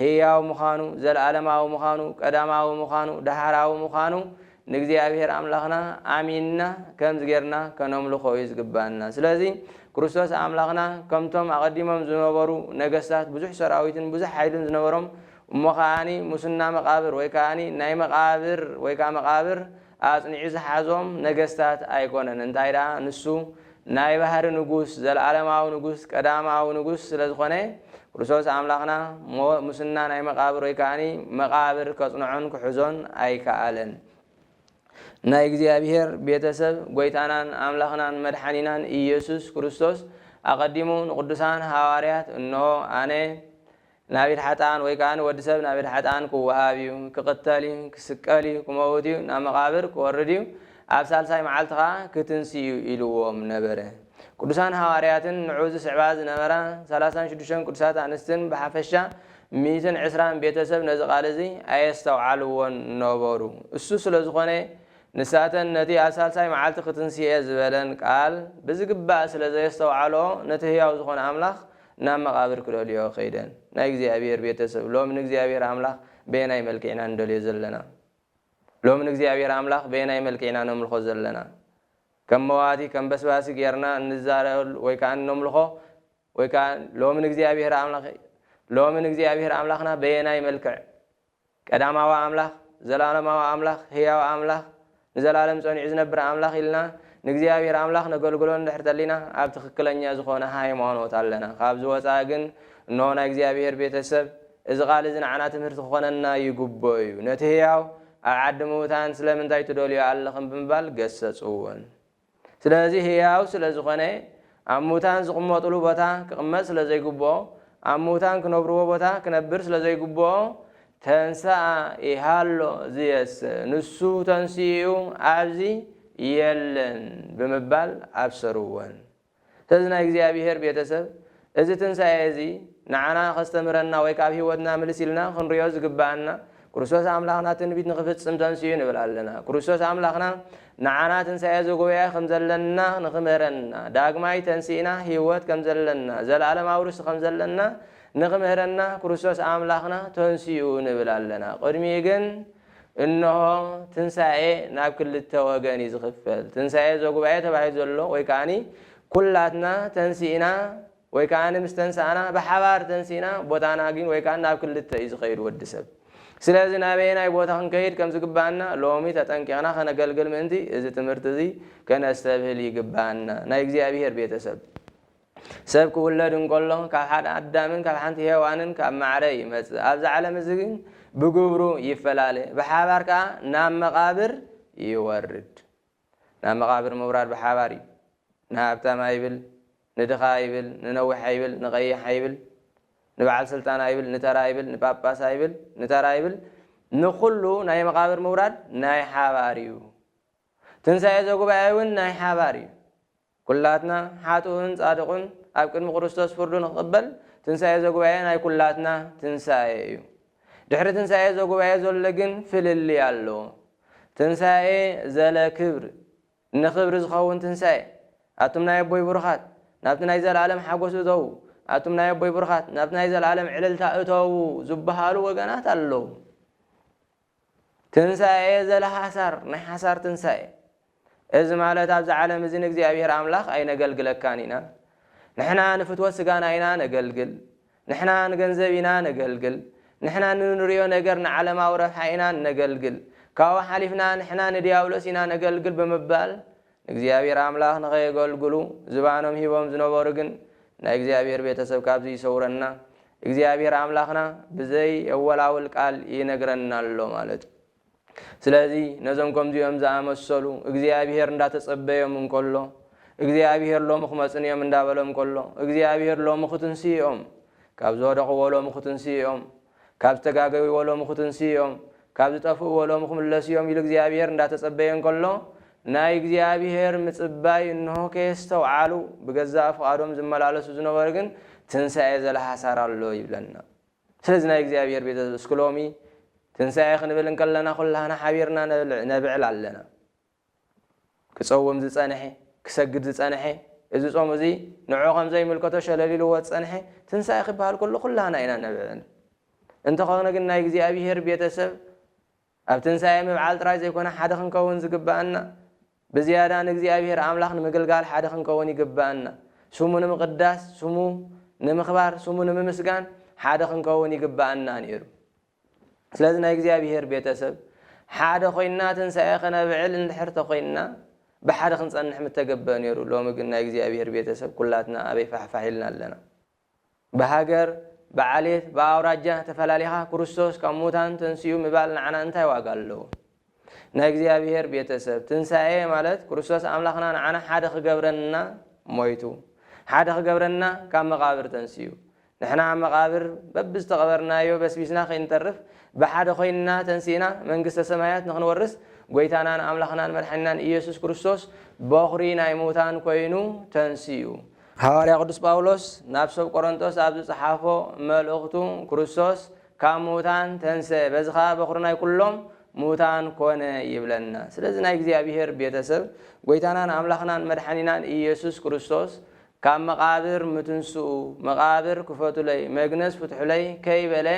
ሕያው ምዃኑ ዘለዓለማዊ ምዃኑ ቀዳማዊ ምዃኑ ዳሕራዊ ምዃኑ ንእግዚኣብሄር ኣምላኽና ኣሚንና ከምዚ ጌርና ከነምልኾ እዩ ዝግብኣና። ስለዚ ክርስቶስ ኣምላኽና ከምቶም ኣቐዲሞም ዝነበሩ ነገስታት ብዙሕ ሰራዊትን ብዙሕ ሓይልን ዝነበሮም እሞ ከኣኒ ሙስና መቓብር ወይ ከኣኒ ናይ መቓብር ወይ ከኣ መቓብር ኣጽኒዑ ዝሓዞም ነገስታት ኣይኮነን። እንታይ ደኣ ንሱ ናይ ባህሪ ንጉስ ዘልኣለማዊ ንጉስ ቀዳማዊ ንጉስ ስለ ዝኾነ ክርስቶስ ኣምላኽና እሞ ሙስና ናይ መቃብር ወይ ከኣኒ መቃብር ከጽንዖን ክሕዞን ኣይከኣለን። ናይ እግዚኣብሔር ቤተ ሰብ ጎይታናን ኣምላኽናን መድሓኒናን ኢየሱስ ክርስቶስ ኣቀዲሙ ንቅዱሳን ሃዋርያት እንሆ ኣነ ናብ ኢድ ሓጥኣን ወይ ከኣ ወዲ ሰብ ናብ ኢድ ሓጥኣን ክወሃብ እዩ፣ ክቕተል እዩ፣ ክስቀል እዩ፣ ክመውት እዩ፣ ናብ መቓብር ክወርድ እዩ፣ ኣብ ሳልሳይ መዓልቲ ኸኣ ክትንሲ እዩ ኢልዎም ነበረ። ቅዱሳን ሃዋርያትን ንዕኡ ዝስዕባ ዝነበራ ሰላሳን ሽዱሽተን ቅዱሳት ኣንስትን ብሓፈሻ ሚእትን ዕስራን ቤተ ሰብ ነዚ ቃል እዚ ኣየስተውዓልዎን ነበሩ። እሱ ስለ ዝኾነ ንሳተን ነቲ ኣብ ሳልሳይ መዓልቲ ክትንሲ እየ ዝበለን ቃል ብዝግባእ ስለ ዘየስተውዓልኦ ነቲ ህያው ዝኾነ ኣምላኽ ናብ መቓብር ክደልይኦ ከይደን። ናይ እግዚኣብሄር ቤተ ሰብ ሎሚ ንእግዚኣብሄር ኣምላኽ በየናይ መልክዕ ኢና ንደልዮ ዘለና? ሎሚ ንእግዚኣብሄር ኣምላኽ በየናይ መልክዕ ኢና ነምልኾ ዘለና? ከም መዋቲ ከም በስባሲ ጌርና እንዛረበሉ ወይ ከኣ እነምልኾ ወይ ከኣ ሎሚ ንእግዚኣብሄር ኣምላኽ ሎሚ ንእግዚኣብሄር ኣምላኽና በየናይ መልክዕ ቀዳማዊ ኣምላኽ፣ ዘለኣለማዊ ኣምላኽ፣ ህያው ኣምላኽ፣ ንዘላለም ጸኒዑ ዝነብር ኣምላኽ ኢልና ንእግዚኣብሔር ኣምላኽ ነገልግሎ እንድሕር ተሊና ኣብ ትኽክለኛ ዝኾነ ሃይማኖት ኣለና። ካብዚ ወጻኢ ግን እንሆ ናይ እግዚኣብሔር ቤተ ሰብ እዚ ቃል እዚ ንዓና ትምህርቲ ክኾነና ይግብኦ እዩ። ነቲ ህያው ኣብ ዓዲ ምዉታን ስለምንታይ ትደልዮ ኣለኽን ብምባል ገሰጽዎን። ስለዚ ህያው ስለ ዝኾነ ኣብ ምዉታን ዝቕመጡሉ ቦታ ክቕመጥ ስለ ዘይግብኦ፣ ኣብ ምዉታን ክነብርዎ ቦታ ክነብር ስለ ዘይግብኦ፣ ተንሥኣ ኢሃሎ ዚየሰ፣ ንሱ ተንሲኡ ኣብዚ የለን ብምባል ኣብሰርወን። ስለዚ ናይ እግዚኣብሄር ቤተ ሰብ እዚ ትንሣኤ እዚ ንዓና ከስተምህረና ወይ ከኣ ኣብ ሕይወትና ምልስ ኢልና ክንርእዮ ዝግብኣና ክርስቶስ ኣምላኽና ትንቢት ንኽፍጽም ተንሥኡ ንብል ኣለና። ክርስቶስ ኣምላኽና ንዓና ትንሣኤ ዘጉባኤ ከም ዘለና ንኽምህረና ዳግማይ ተንሲእና ሕይወት ከም ዘለና ዘለዓለማዊ ርስቲ ከም ዘለና ንኽምህረና ክርስቶስ ኣምላኽና ተንሥኡ ንብል ኣለና። ቅድሚኡ ግን እንሆ፣ ትንሣኤ ናብ ክልተ ወገን እዩ ዝኽፈል። ትንሣኤ ዘጉባኤ ተባሂሉ ዘሎ ወይ ከዓኒ ኩላትና ተንሲእና ወይ ከዓኒ ምስ ተንሳእና ብሓባር ተንሲእና ቦታና ግን ወይ ከዓኒ ናብ ክልተ እዩ ዝኸይድ ወዲ ሰብ። ስለዚ ናበየናይ ቦታ ክንከይድ ከም ዝግብኣና ሎሚ ተጠንቂቕና ከነገልግል ምእንቲ እዚ ትምህርቲ እዚ ከነስተብህል ይግብኣና። ናይ እግዚኣብሔር ቤተሰብ ሰብ ክውለድ እንከሎ ካብ ሓደ ኣዳምን ካብ ሓንቲ ሄዋንን ካብ ማዕረ ይመጽእ፣ ኣብዚ ዓለም እዚ ግን ብግብሩ ይፈላለ፣ ብሓባር ከኣ ናብ መቓብር ይወርድ። ናብ መቓብር ምውራድ ብሓባር እዩ። ንሃብታም ኣይብል፣ ንድኻ ኣይብል፣ ንነዊሕ ኣይብል፣ ንቐይሕ ኣይብል፣ ንበዓል ስልጣን ኣይብል፣ ንተራ ኣይብል፣ ንጳጳስ ኣይብል፣ ንተራ ኣይብል፣ ንኹሉ ናይ መቓብር ምውራድ ናይ ሓባር እዩ። ትንሳኤ ዘጉባኤ እውን ናይ ሓባር እዩ። ኩላትና ሓጥኡን ጻድቑን ኣብ ቅድሚ ክርስቶስ ፍርዱ ንክቕበል ትንሳኤ ዘጉባኤ ናይ ኩላትና ትንሳኤ እዩ። ድሕሪ ትንሳኤ ዘጉባኤ ዘሎ ግን ፍልልይ ኣለዎ። ትንሳኤ ዘለ ክብር ንክብሪ ዝኸውን ትንሳኤ። ኣቱም ናይ ኣቦይ ብሩኻት ናብቲ ናይ ዘለኣለም ሓጎስ እተዉ፣ ኣቱም ናይ ኣቦይ ብሩኻት ናብቲ ናይ ዘለኣለም ዕልልታ እተዉ ዝበሃሉ ወገናት ኣለዉ። ትንሣኤ ዘለሓሳር ናይ ሓሳር ትንሣኤ እዚ ማለት ኣብዚ ዓለም እዚ ንእግዚኣብሔር ኣምላኽ ኣይነገልግለካን ኢና ንሕና ንፍትወት ስጋና ኢና ነገልግል ንሕና ንገንዘብ ኢና ነገልግል ንሕና ንንርእዮ ነገር ንዓለማዊ ረብሓ ኢና እነገልግል ካብኡ ሓሊፍና ንሕና ንዲያብሎስ ኢና ነገልግል ብምባል ንእግዚኣብሔር ኣምላኽ ንኸየገልግሉ ዝባኖም ሂቦም ዝነበሩ ግን ናይ እግዚኣብሔር ቤተሰብ ካብዚ ይሰውረና እግዚኣብሔር ኣምላኽና ብዘይ የወላውል ቃል ይነግረና ኣሎ ማለት እዩ ስለዚ ነዞም ከምዚኦም ዝኣመሰሉ እግዚኣብሔር እንዳተጸበዮም እንከሎ እግዚኣብሔር ሎሚ ክመጽን እዮም እንዳበሎም ከሎ እግዚኣብሔር ሎሚ ክትንስኦም ካብ ዝወደቕዎ ሎሚ ክትንስኦም ካብ ዝተጋገዩዎ ሎሚ ክትንስኡ እዮም፣ ካብ ዝጠፍኡዎ ሎሚ ክምለሱ እዮም ኢሉ እግዚኣብሄር እንዳተጸበየ እንከሎ፣ ናይ እግዚኣብሄር ምጽባይ እንሆ ከየስተውዓሉ ብገዛእ ፍቓዶም ዝመላለሱ ዝነበሩ ግን ትንሳኤ ዘልሃሳር ኣሎ ይብለና። ስለዚ ናይ እግዚኣብሄር ቤተሰብ እስኪ ሎሚ ትንሳኤ ክንብል እንከለና ኩላህና ሓቢርና ነብዕል ኣለና። ክጸውም ዝጸንሔ፣ ክሰግድ ዝጸንሔ፣ እዚ ጾም እዚ ንዕዑ ከም ዘይምልከቶ ሸለል ኢልዎ ዝጸንሔ፣ ትንሣኤ ኺበሃል ከሎ ዅላህና ኢና እነብዕል። እንተኾነ ግን ናይ እግዚኣብሔር ቤተ ሰብ ኣብ ትንሣኤ ምብዓል ጥራይ ዘይኮነ ሓደ ክንከውን ዝግብኣና፣ ብዝያዳ ንእግዚኣብሔር ኣምላኽ ንምግልጋል ሓደ ክንከውን ይግብኣና። ስሙ ንምቕዳስ፣ ስሙ ንምኽባር፣ ስሙ ንምምስጋን ሓደ ክንከውን ይግብኣና ነይሩ። ስለዚ ናይ እግዚኣብሄር ቤተ ሰብ ሓደ ኮይንና ትንሳኤ ከነብዕል እንድሕር ተኮይንና ብሓደ ክንጸንሕ ምተገበ ኔሩ ሎሚ ግን ናይ እግዚኣብሄር ቤተ ሰብ ኩላትና ኣበይ ፋሕፋሕ ኢልና ኣለና ብሃገር ብዓሌት ብኣውራጃ ተፈላሊኻ ክርስቶስ ካብ ሙታን ተንሲኡ ምባል ንዓና እንታይ ዋጋ ኣለዎ። ናይ እግዚኣብሔር ቤተ ሰብ ትንሣኤ ማለት ክርስቶስ ኣምላኽና ንዓና ሓደ ክገብረና ሞይቱ ሓደ ክገብረና ካብ መቓብር ተንስኡ ንሕና ኣብ መቓብር በብ ዝተቐበርናዮ በስቢስና ከይንተርፍ ብሓደ ኮይንና ተንሲእና መንግስተ ሰማያት ንክንወርስ ጐይታናን ኣምላኽናን መድሓኒናን ኢየሱስ ክርስቶስ በኹሪ ናይ ምውታን ኮይኑ ተንስኡ። ሃዋርያ ቅዱስ ጳውሎስ ናብ ሰብ ቆሮንጦስ ኣብ ዝጸሓፎ መልእኽቱ ክርስቶስ ካብ ምዉታን ተንሥእ፣ በዚ ኸኣ በዅሪ ናይ ኵሎም ምዉታን ኰነ ይብለና። ስለዚ ናይ እግዚኣብሔር ቤተ ሰብ ጐይታናን ኣምላኽናን መድሓኒናን ኢየሱስ ክርስቶስ ካብ መቓብር ምትንሥኡ መቓብር ክፈቱለይ መግነዝ ፍትሑለይ ከይበለ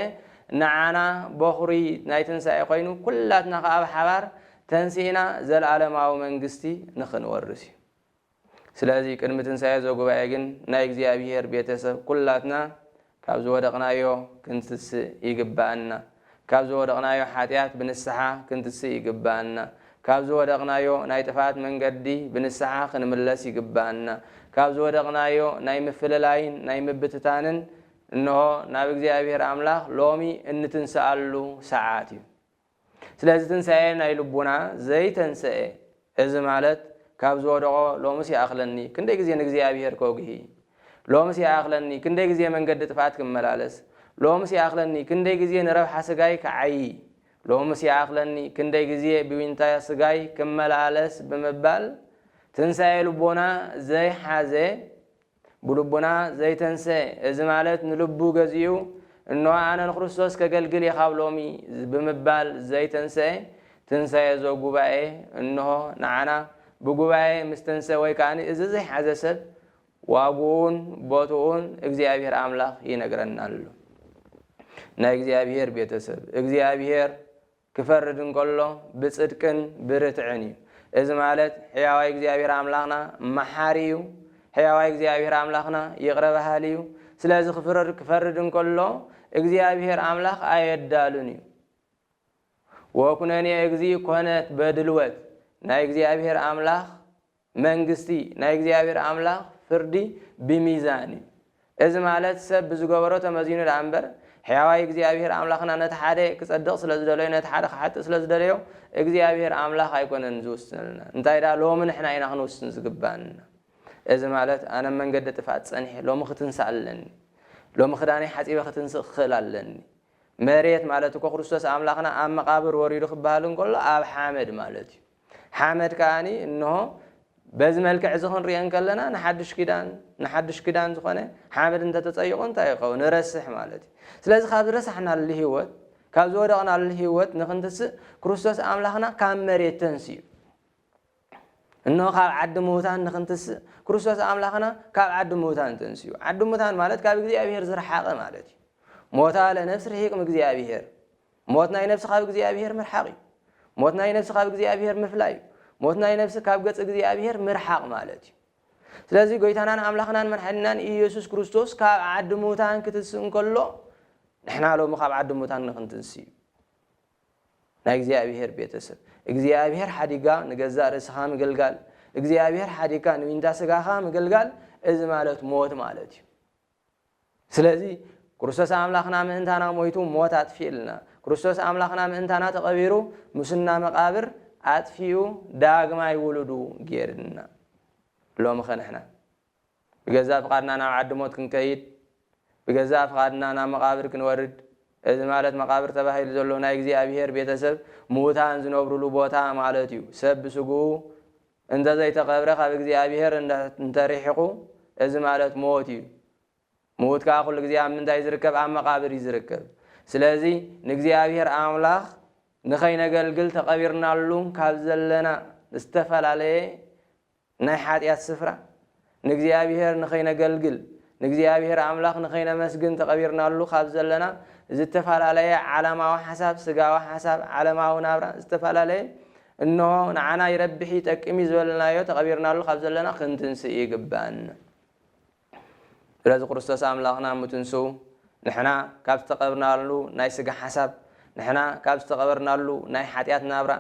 ንዓና በዅሪ ናይ ትንሣኤ ኰይኑ ኵላትና ከኣ ብሓባር ተንሲእና ዘለዓለማዊ መንግሥቲ ንኽንወርስ እዩ። ስለዚ ቅድሚ ትንሣኤ ዘጉባኤ ግን ናይ እግዚኣብሔር ቤተሰብ ኩላትና ካብ ዝወደቕናዮ ክንትስእ ይግብኣና። ካብ ዝወደቕናዮ ሓጢኣት ብንስሓ ክንትስእ ይግብኣና። ካብ ዝወደቕናዮ ናይ ጥፍኣት መንገዲ ብንስሓ ክንምለስ ይግብኣና። ካብ ዝወደቕናዮ ናይ ምፍልላይን ናይ ምብትታንን እንሆ ናብ እግዚኣብሔር ኣምላኽ ሎሚ እንትንስኣሉ ሰዓት እዩ። ስለዚ ትንሳኤ ናይ ልቡና ዘይተንሰኤ እዚ ማለት ካብ ዝወደቆ ሎምስ ይኣኽለኒ ክንደይ ግዜ ንእግዚኣብሄር ከጉሂ ሎምስ ይኣኽለኒ ክንደይ ግዜ መንገዲ ጥፍኣት ክመላለስ ሎምስ ይኣኽለኒ ክንደይ ግዜ ንረብሓ ስጋይ ክዓዪ ሎምስ ይኣኽለኒ ክንደይ ግዜ ብዊንታ ስጋይ ክመላለስ ብምባል ትንሳኤ ልቦና ዘይሓዘ ብልቡና ዘይተንሰኤ፣ እዚ ማለት ንልቡ ገዚኡ እንሆ ኣነ ንክርስቶስ ከገልግል እየ ካብ ሎሚ ብምባል ዘይተንሰኤ፣ ትንሳኤ ዘጉባኤ እንሆ ንዓና ብጉባኤ ምስ ተንሰ ወይ ከኣ እዚ ዘይሓዘ ሰብ ዋግኡን ቦትኡን እግዚኣብሔር ኣምላኽ ይነግረና ኣሎ። ናይ እግዚኣብሔር ቤተሰብ፣ እግዚኣብሔር ክፈርድ እንከሎ ብጽድቅን ብርትዕን እዩ። እዚ ማለት ሕያዋይ እግዚኣብሔር ኣምላኽና መሓሪ እዩ። ሕያዋይ እግዚኣብሔር ኣምላኽና ይቕረ በሃሊ እዩ። ስለዚ ክፍርድ ክፈርድ እንከሎ እግዚኣብሔር ኣምላኽ ኣየዳሉን እዩ። ወኩነኔ እግዚእ ኮነት በድልወት ናይ እግዚኣብሔር ኣምላኽ መንግስቲ ናይ እግዚኣብሔር ኣምላኽ ፍርዲ ብሚዛን እዩ። እዚ ማለት ሰብ ብዝገበሮ ተመዚኑ ደኣ እምበር፣ ሕያዋይ እግዚኣብሔር ኣምላኽና ነቲ ሓደ ክጸድቕ ስለ ዝደለዮ ነቲ ሓደ ክሓጥእ ስለ ዝደለዮ እግዚኣብሔር ኣምላኽ ኣይኮነን ዝውስነልና። እንታይ ደኣ ሎሚ ንሕና ኢና ክንውስን ዝግብኣና። እዚ ማለት ኣነ ኣብ መንገዲ ጥፍኣት ጸኒሐ ሎሚ ክትንሳእ ኣለኒ። ሎሚ ክዳነይ ሓጺበ ክትንስእ ክኽእል ኣለኒ። መሬት ማለት እኮ ክርስቶስ ኣምላኽና ኣብ መቓብር ወሪዱ ክበሃል እንከሎ ኣብ ሓመድ ማለት እዩ። ሓመድ ከኣ እንሆ በዚ መልክዕ እዚ ክንሪኦ እንከለና ንሓዱሽ ኪዳን ንሓዱሽ ኪዳን ዝኾነ ሓመድ እንተተጸይቑ እንታይ ይኸውን? ንረስሕ ማለት እዩ። ስለዚ ካብ ዝረሳሕናሉ ህይወት ካብ ዝወደቕናሉ ህይወት ንክንትስእ ክርስቶስ ኣምላኽና ካብ መሬት ተንስኡ እኖ ካብ ዓዲ ምውታን ንክንትስእ ክርስቶስ ኣምላኽና ካብ ዓዲ ምውታን ተንስኡ ዓዲ ምውታን ማለት ካብ እግዚኣብሄር ዝረሓቐ ማለት እዩ ሞታ ለነፍሲ ርሂቅ እግኣብሄር ሞት ናይ ነፍሲ ካብ እግዚኣብሄር ምርሓቕ እዩ። ሞት ናይ ነፍሲ ካብ እግዚኣብሄር ምፍላይ እዩ። ሞት ናይ ነፍሲ ካብ ገጽ እግዚኣብሄር ምርሓቕ ማለት እዩ። ስለዚ ጎይታናን ኣምላኽናን መድሓኒናን ኢየሱስ ክርስቶስ ካብ ዓዲ ምውታን ክትንስእ እንከሎ ንሕና ሎሚ ካብ ዓዲ ምውታን ንክንትንስእ እዩ። ናይ እግዚኣብሄር ቤተሰብ እግዚኣብሄር ሓዲጋ ንገዛእ ርእስኻ ምግልጋል እግዚኣብሄር ሓዲካ ንዊንታ ስጋኻ ምግልጋል እዚ ማለት ሞት ማለት እዩ። ስለዚ ክርስቶስ ኣምላኽና ምእንታና ሞይቱ ሞት ኣጥፊእልና። ክርስቶስ ኣምላኽና ምእንታና ተቐቢሩ ሙስና መቓብር ኣጥፊኡ ዳግማይ ውሉዱ ጌርና። ሎምኸ ንሕና? ብገዛእ ፍቓድና ናብ ዓዲ ሞት ክንከይድ፣ ብገዛእ ፍቓድና ናብ መቓብር ክንወርድ፣ እዚ ማለት መቓብር ተባሂሉ ዘሎ ናይ እግዚኣብሄር ቤተሰብ ምዉታን ዝነብሩሉ ቦታ ማለት እዩ። ሰብ ብስግኡ እንተ ዘይተቐብረ ካብ እግዚኣብሄር እንተ ርሒቑ፣ እዚ ማለት ሞት እዩ። ምዉት ከኣ ኩሉ ግዜ ኣብ ምንታይ እዩ ዝርከብ? ኣብ መቓብር እዩ ዝርከብ። ስለዚ ንእግዚኣብሄር ኣምላኽ ንኸይነገልግል ተቐቢርናሉ ካብ ዘለና ዝተፈላለየ ናይ ሓጢኣት ስፍራ ንእግዚኣብሄር ንኸይነገልግል፣ ንእግዚኣብሄር ኣምላኽ ንኸይነመስግን ተቐቢርናሉ ካብ ዘለና ዝተፈላለየ ዓለማዊ ሓሳብ፣ ስጋዊ ሓሳብ፣ ዓለማዊ ናብራ ዝተፈላለየ እንሆ ንዓና ይረብሕ'ዩ ይጠቅም'ዩ ዝበልናዮ ተቐቢርናሉ ካብ ዘለና ክንትንስእ ይግብኣና። ስለዚ ክርስቶስ ኣምላኽና ምትንስኡ ንሕና ካብ ዝተቐብርናሉ ናይ ስጋ ሓሳብ፣ ንሕና ካብ ዝተቐበርናሉ ናይ ሓጢኣት ናብራ፣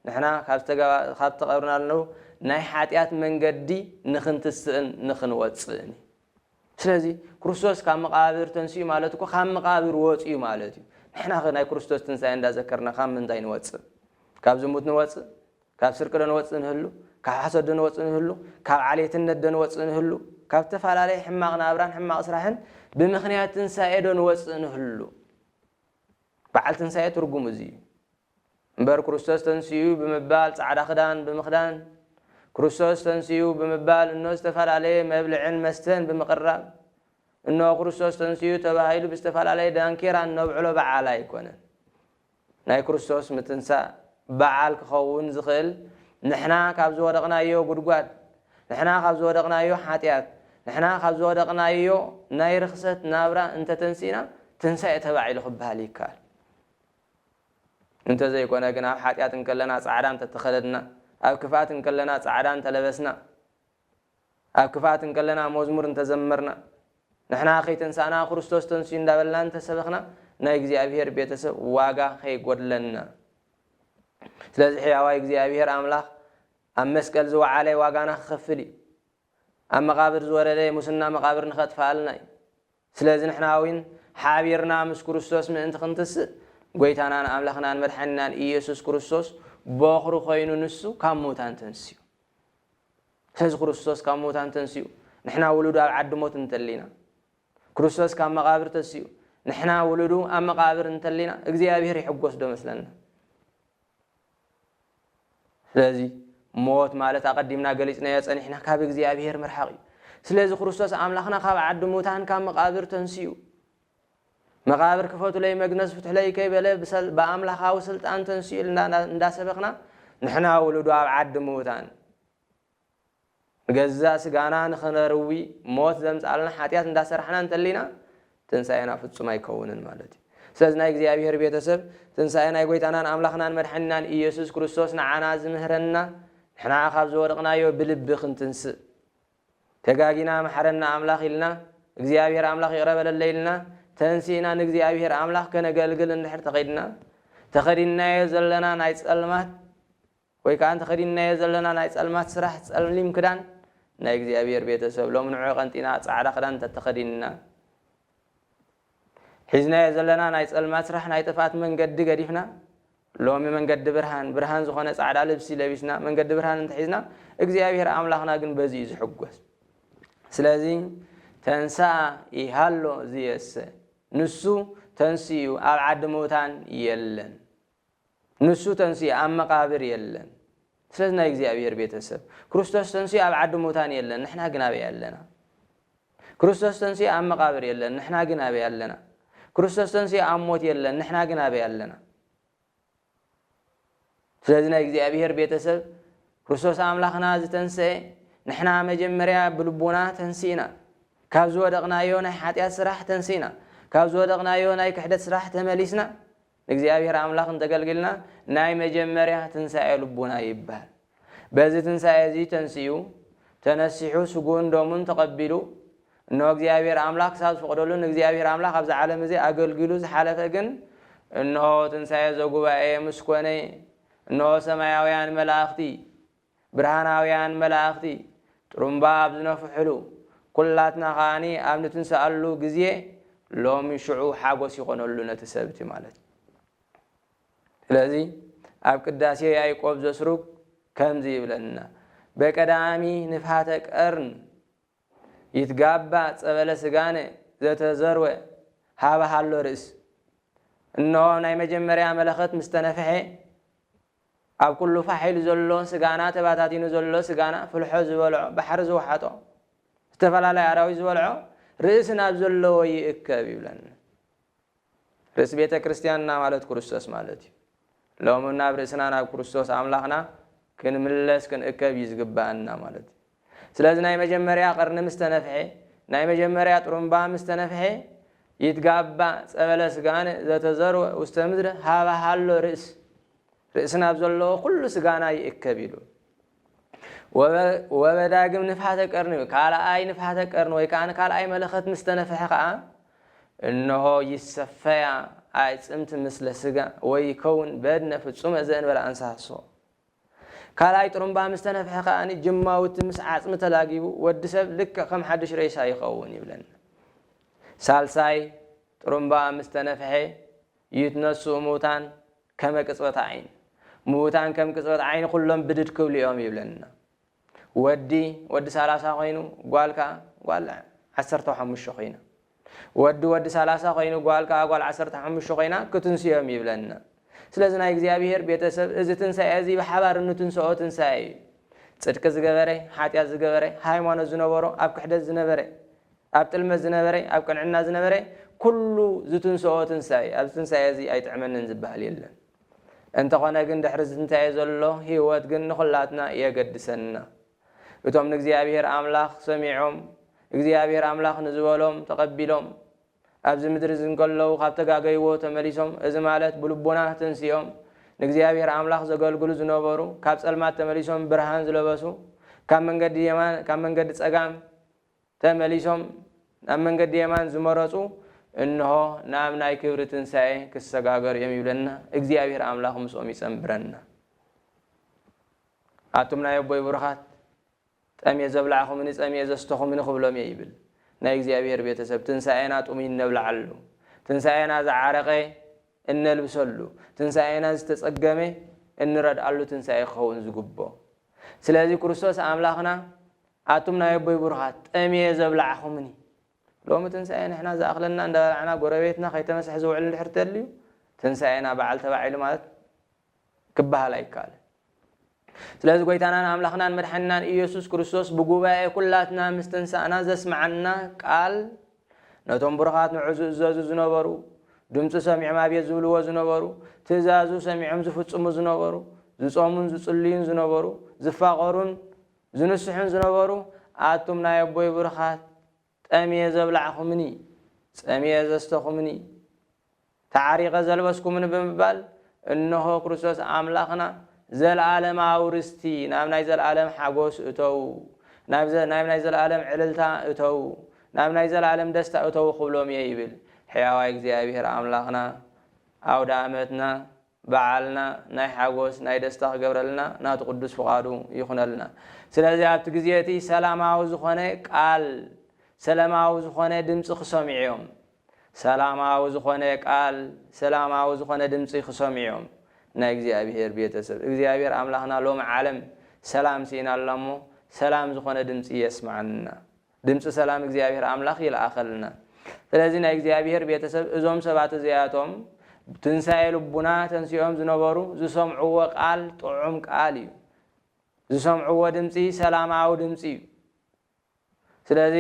ንሕና ካብ ዝተቐብርናሉ ናይ ሓጢኣት መንገዲ ንኽንትስእን ንኽንወጽእን እዩ። ስለዚ ክርስቶስ ካብ መቓብር ተንሲኡ ማለት እኮ ካብ መቓብር ወጺኡ ማለት እዩ። ንሕናኸ ናይ ክርስቶስ ትንሳኤ እንዳዘከርና ካብ ምንታይ ንወጽእ? ካብ ዝሙት ንወጽእ? ካብ ስርቂዶ ንወጽእ ንህሉ? ካብ ሓሶትዶ ንወጽእ ንህሉ? ካብ ዓሌትነትዶ ንወጽእ ንህሉ? ካብ እተፈላለየ ሕማቕ ናብራን ሕማቕ ስራሕን ብምኽንያት ትንሳኤዶ ንወጽእ ንህሉ? በዓል ትንሳኤ ትርጉሙ እዚ እዩ። እምበር ክርስቶስ ተንሲኡ ብምባል ጻዕዳ ክዳን ብምኽዳን፣ ክርስቶስ ተንሲኡ ብምባል እኖ ዝተፈላለየ መብልዕን መስተን ብምቕራብ፣ እኖ ክርስቶስ ተንሲኡ ተባሂሉ ብዝተፈላለየ ዳንኬራ እነብዕሎ በዓል ኣይኮነን። ናይ ክርስቶስ ምትንሳእ በዓል ክኸውን ዝኽእል ንሕና ካብ ዝወደቕናዮ ጉድጓድ፣ ንሕና ካብ ዝወደቕናዮ ሓጢኣት፣ ንሕና ካብ ዝወደቕናዮ ናይ ርኽሰት ናብራ እንተ ተንሲእና ትንሳኤ ተባዒሉ ክበሃል ይከኣል። እንተ ዘይኮነ ግን ኣብ ሓጢኣት እንከለና ጻዕዳ እንተ ተኸደድና፣ ኣብ ክፍኣት እንከለና ጻዕዳ እንተ ለበስና፣ ኣብ ክፍኣት እንከለና መዝሙር እንተዘመርና፣ ንሕና ከይተንሳእና ክርስቶስ ተንሲኡ እንዳበልና እንተሰበኽና ናይ እግዚኣብሄር ቤተሰብ ዋጋ ከይጎድለና። ስለዚ ሕያዋይ እግዚኣብሄር ኣምላኽ ኣብ መስቀል ዝወዓለ ዋጋና ክኸፍል እዩ። ኣብ መቓብር ዝወረደ ሙስና መቓብር ንኸጥፍኣልና እዩ። ስለዚ ንሕና እውን ሓቢርና ምስ ክርስቶስ ምእንቲ ክንትስእ፣ ጐይታናን ኣምላኽናን መድሓኒናን ኢየሱስ ክርስቶስ ቦኽሪ ኮይኑ ንሱ ካብ ምዉታን ተንሲኡ። ስለዚ ክርስቶስ ካብ ምዉታን ተንሲኡ፣ ንሕና ውሉዱ ኣብ ዓዲ ሞት እንተሊና፣ ክርስቶስ ካብ መቓብር ተሲኡ፣ ንሕና ውሉዱ ኣብ መቓብር እንተሊና እግዚኣብሔር ይሕጐስዶ መስለና? ስለዚ ሞት ማለት ኣቐዲምና ገሊጽናዮ ጸኒሕና ካብ እግዚኣብሄር ምርሓቕ እዩ። ስለዚ ክርስቶስ ኣምላኽና ካብ ዓዲ ሙታን ካብ መቓብር ተንሲኡ። መቓብር ክፈቱለይ መግነዝ ፍትሑለይ ከይበለ ብኣምላኻዊ ስልጣን ተንሲኡ ኢልና እንዳሰበኽና ንሕና ውሉዱ ኣብ ዓዲ ምዉታን ንገዛእ ስጋና ንኽነርዊ ሞት ዘምጽኣልና ሓጢኣት እንዳ ሰራሕና እንተሊና ትንሳኤና ፍጹም ኣይከውንን ማለት እዩ። ስለዚ ናይ እግዚኣብሄር ቤተ ሰብ ትንሳኤ ናይ ጎይታናን ኣምላኽናን መድሓኒናን ኢየሱስ ክርስቶስ ንዓና ዝምህረና ንሕና ካብ ዝወደቕናዮ ብልቢ ክንትንስእ ተጋጊና መሓረና ኣምላኽ ኢልና እግዚኣብሄር ኣምላኽ ይቕረ በለለይ ኢልና ተንሲእና ንእግዚኣብሄር ኣምላኽ ከነገልግል እንድሕር ተኸድና ተኸዲናዮ ዘለና ናይ ጸልማት ወይ ከኣ ተኸዲንናዮ ዘለና ናይ ጸልማት ስራሕ ጸሊም ክዳን ናይ እግዚኣብሄር ቤተ ሰብ ሎሚ ንዑ ቀንጢና ጻዕዳ ክዳን እንተ ተኸዲንና ሒዝናዮ ዘለና ናይ ጸልማት ስራሕ ናይ ጥፍኣት መንገዲ ገዲፍና ሎሚ መንገዲ ብርሃን ብርሃን ዝኾነ ጻዕዳ ልብሲ ለቢስና መንገዲ ብርሃን እንተሒዝና እግዚኣብሄር ኣምላኽና ግን በዚ እዩ ዝሕጎስ ስለዚ ተንሳ ይሃሎ ዝየሰ ንሱ ተንስኡ ኣብ ዓዲ ምውታን የለን ንሱ ተንሲኡ ኣብ መቃብር የለን ስለዚ ናይ እግዚኣብሔር ቤተሰብ ክርስቶስ ተንሲኡ ኣብ ዓዲ ሙታን የለን ንሕና ግን ኣበይ ኣለና ክርስቶስ ተንሲኡ ኣብ መቃብር የለን ንሕና ግን ኣበይ ኣለና ክርስቶስ ተንሲኡ ኣብ ሞት የለን ንሕና ግን ኣበይ ኣለና ስለዚ ናይ እግዚኣብሔር ቤተሰብ ክርስቶስ ኣምላኽና ዝተንስአ ንሕና መጀመርያ ብልቡና ተንሲእና ካብ ዝወደቕናዮ ናይ ሓጢኣት ስራሕ ተንሲእና ካብ ዝወደቕናዮ ናይ ክሕደት ስራሕ ተመሊስና ንእግዚኣብሔር ኣምላኽ እንተገልግልና ናይ መጀመርያ ትንሣኤ ልቡና ይበሃል። በዚ ትንሣኤ እዙይ ተንሲኡ ተነሲሑ ስጉኡን ደሙን ተቐቢሉ እነሆ እግዚኣብሔር ኣምላኽ ክሳብ ዝፈቕደሉ ንእግዚኣብሔር ኣምላኽ ኣብዚ ዓለም እዚ ኣገልጊሉ ዝሓለፈ ግን እነሆ ትንሣኤ ዘጉባኤ ምስ ኮነ እነሆ ሰማያውያን መላእኽቲ ብርሃናውያን መላእኽቲ ጥሩምባ ኣብ ዝነፍሑሉ፣ ኩላትና ከኣ ኣብ ንትንሳኣሉ ግዜ ሎሚ ሽዑ ሓጎስ ይኾነሉ ነቲ ሰብ እቲ ማለት ስለዚ ኣብ ቅዳሴ ያእቆብ ዘስሩግ ከምዚ ይብለና በቀዳሚ ንፍሃተ ቀርን ይትጋባ ጸበለ ስጋነ ዘተዘርወ ሃበ ሃሎ ርእስ እነሆ ናይ መጀመርያ መለኸት ምስተነፍሐ ኣብ ኩሉ ፋሕ ኢሉ ዘሎ ስጋና ተባታቲኑ ዘሎ ስጋና ፍልሖ ዝበልዖ ባሕሪ ዝወሓጦ ዝተፈላለያ ኣራዊት ዝበልዖ ርእሲ ናብ ዘለዎ ይእከብ ይብለና ርእሲ ቤተ ክርስቲያንና ማለት ክርስቶስ ማለት እዩ ሎሚ ናብ ርእስና ናብ ክርስቶስ ኣምላኽና ክንምለስ ክንእከብ እዩ ዝግባኣና ማለት እዩ ስለዚ ናይ መጀመርያ ቐርኒ ምስ ተነፍሔ፣ ናይ መጀመርያ ጥሩምባ ምስ ተነፍሔ፣ ይትጋባእ ጸበለ ስጋነ ዘተዘርወ ውስተ ምድረ ኀበ ሀሎ ርእስ፣ ርእሲ ናብ ዘለዎ ኵሉ ስጋና ይእከብ ኢሉ። ወበዳግም ንፍሓተ ቀርኒ፣ ካልኣይ ንፍሓተ ቀርኒ ወይ ከኣ ካልኣይ መለኸት ምስ ተነፍሔ ኸኣ፣ እንሆ ይሰፈያ ኣዕጽምቲ ምስለ ስጋ፣ ወይከውን በድነ ፍጹመ ዘእንበለ ኣንሳሶ፣ ካልኣይ ጥሩምባ ምስ ተነፍሐ ከኣ ጅማውቲ ምስ ዓጽሚ ተላጊቡ ወዲ ሰብ ልክዕ ከም ሓድሽ ሬሳ ይኸውን ይብለና። ሳልሳይ ጥሩምባ ምስ ተነፍሐ ይትነስኡ ምውታን ከመ ቅጽበት ዓይን፣ ምውታን ከም ቅጽበት ዓይኒ ኩሎም ብድድ ክብሉ እዮም ይብለና። ወዲ ወዲ ሰላሳ ኮይኑ ጓል ከኣ ጓል ዓሰርተ ሓሙሽተ ኮይና ወዲ ወዲ ሰላሳ ኮይኑ ጓል ከኣ ጓል ዓሰርተ ሓሙሽተ ኮይና ክትንስዮም ይብለና ስለዚ ናይ እግዚኣብሄር ቤተሰብ እዚ ትንሳኤ እዚ ብሓባር እንትንስኦ ትንሳኤ እዩ ጽድቂ ዝገበረ ሓጢኣት ዝገበረ ሃይማኖት ዝነበሮ ኣብ ክሕደት ዝነበረ ኣብ ጥልመት ዝነበረ ኣብ ቅንዕና ዝነበረ ኩሉ ዝትንስኦ ትንሳኤ ኣብዚ ትንሳኤ እዚ ኣይጥዕመንን ዝበሃል የለን እንተኾነ ግን ድሕሪ ዝትንሳኤ ዘሎ ህይወት ግን ንኹላትና የገድሰና። እቶም ንእግዚኣብሄር ኣምላኽ ሰሚዖም እግዚኣብሄር ኣምላኽ ንዝበሎም ተቐቢሎም ኣብዚ ምድሪ እዚ እንከለዉ ካብ ተጋገይዎ ተመሊሶም እዚ ማለት ብልቦና ተንሲኦም ንእግዚኣብሄር ኣምላኽ ዘገልግሉ ዝነበሩ ካብ ጸልማት ተመሊሶም ብርሃን ዝለበሱ ካብ መንገዲ የማን ካብ መንገዲ ጸጋም ተመሊሶም ናብ መንገዲ የማን ዝመረጹ እንሆ ናብ ናይ ክብሪ ትንሣኤ ክሰጋገሩ እዮም ይብለና እግዚኣብሔር ኣምላኽ ምስኦም ይጸንብረና ኣቱም ናይ ኣቦይ ብሩኻት ጠምየ ዘብላዕኹምኒ ጸምየ ዘስተኹምኒ ክብሎም እየ ይብል ናይ እግዚኣብሔር ቤተሰብ ትንሣኤና ጥሙይ እነብልዓሉ ትንሣኤና ዝዓረቐ እነልብሰሉ ትንሣኤና ዝተጸገመ እንረድኣሉ ትንሣኤ ክኸውን ዝግቦ ስለዚ ክርስቶስ ኣምላኽና ኣቱም ናይ ኣቦይ ቡሩኻት ጠምየ ዘብላዕኹምኒ ሎሚ ትንሳኤ ንሕና ዝኣኽለና እንዳበላዕና ጎረቤትና ከይተመሰሐ ዝውዕል እንድሕር ተልዩ ትንሳኤና በዓል ተባዕ ኢሉ ማለት ክበሃል ኣይከኣልን ስለዚ ጎይታናን ኣምላኽናን መድሓኒናን እየሱስ ክርስቶስ ብጉባኤ ኩላትና ምስ ተንሳእና ዘስመዓና ቃል ነቶም ቡሩኻት ንዑ ዝእዘዙ ዝነበሩ ድምጹ ሰሚዖም ኣቤት ዝብልዎ ዝነበሩ ትእዛዙ ሰሚዖም ዝፍጽሙ ዝነበሩ ዝጾሙን ዝጽልዩን ዝነበሩ ዝፋቐሩን ዝንስሑን ዝነበሩ ኣቱም ናይ ኣቦይ ብሩኻት ጠምየ ዘብላዕኹምኒ ጸሚኤ ዘስተኹምኒ ተዓሪቐ ዘልበስኩምኒ ብምባል እንሆ ክርስቶስ ኣምላኽና ዘልኣለማዊ ርስቲ ናብ ናይ ዘልኣለም ሓጎስ እተዉ ናብ ናይ ናይ ዘልኣለም ዕልልታ እተዉ ናብ ናይ ዘልኣለም ደስታ እተዉ ክብሎም እየ ይብል ሕያዋይ እግዚኣብሔር ኣምላኽና ኣውደኣመትና በዓልና ናይ ሓጎስ ናይ ደስታ ክገብረልና ናቱ ቅዱስ ፍቃዱ ይኩነልና ስለዚ ኣብቲ ግዜ እቲ ሰላማዊ ዝኮነ ቃል ሰለማዊ ዝኮነ ድምጺ ክሰምዑዮም ሰላማዊ ዝኮነ ቃል ሰላማዊ ዝኮነ ድምጺ ክሰምዑዮም ናይ እግዚኣብሔር ቤተሰብ እግዚኣብሔር ኣምላክና ሎሚ ዓለም ሰላም ሲኢና ኣላ እሞ ሰላም ዝኮነ ድምጺ የስመዓና ድምጺ ሰላም እግዚኣብሔር ኣምላኽ ይልኣኸልና። ስለዚ ናይ እግዚኣብሔር ቤተሰብ እዞም ሰባት እዚኣቶም ብትንሣኤ ልቡና ተንሲኦም ዝነበሩ ዝሰምዕዎ ቃል ጥዑም ቃል እዩ። ዝሰምዕዎ ድምጺ ሰላማዊ ድምጺ እዩ። ስለዚ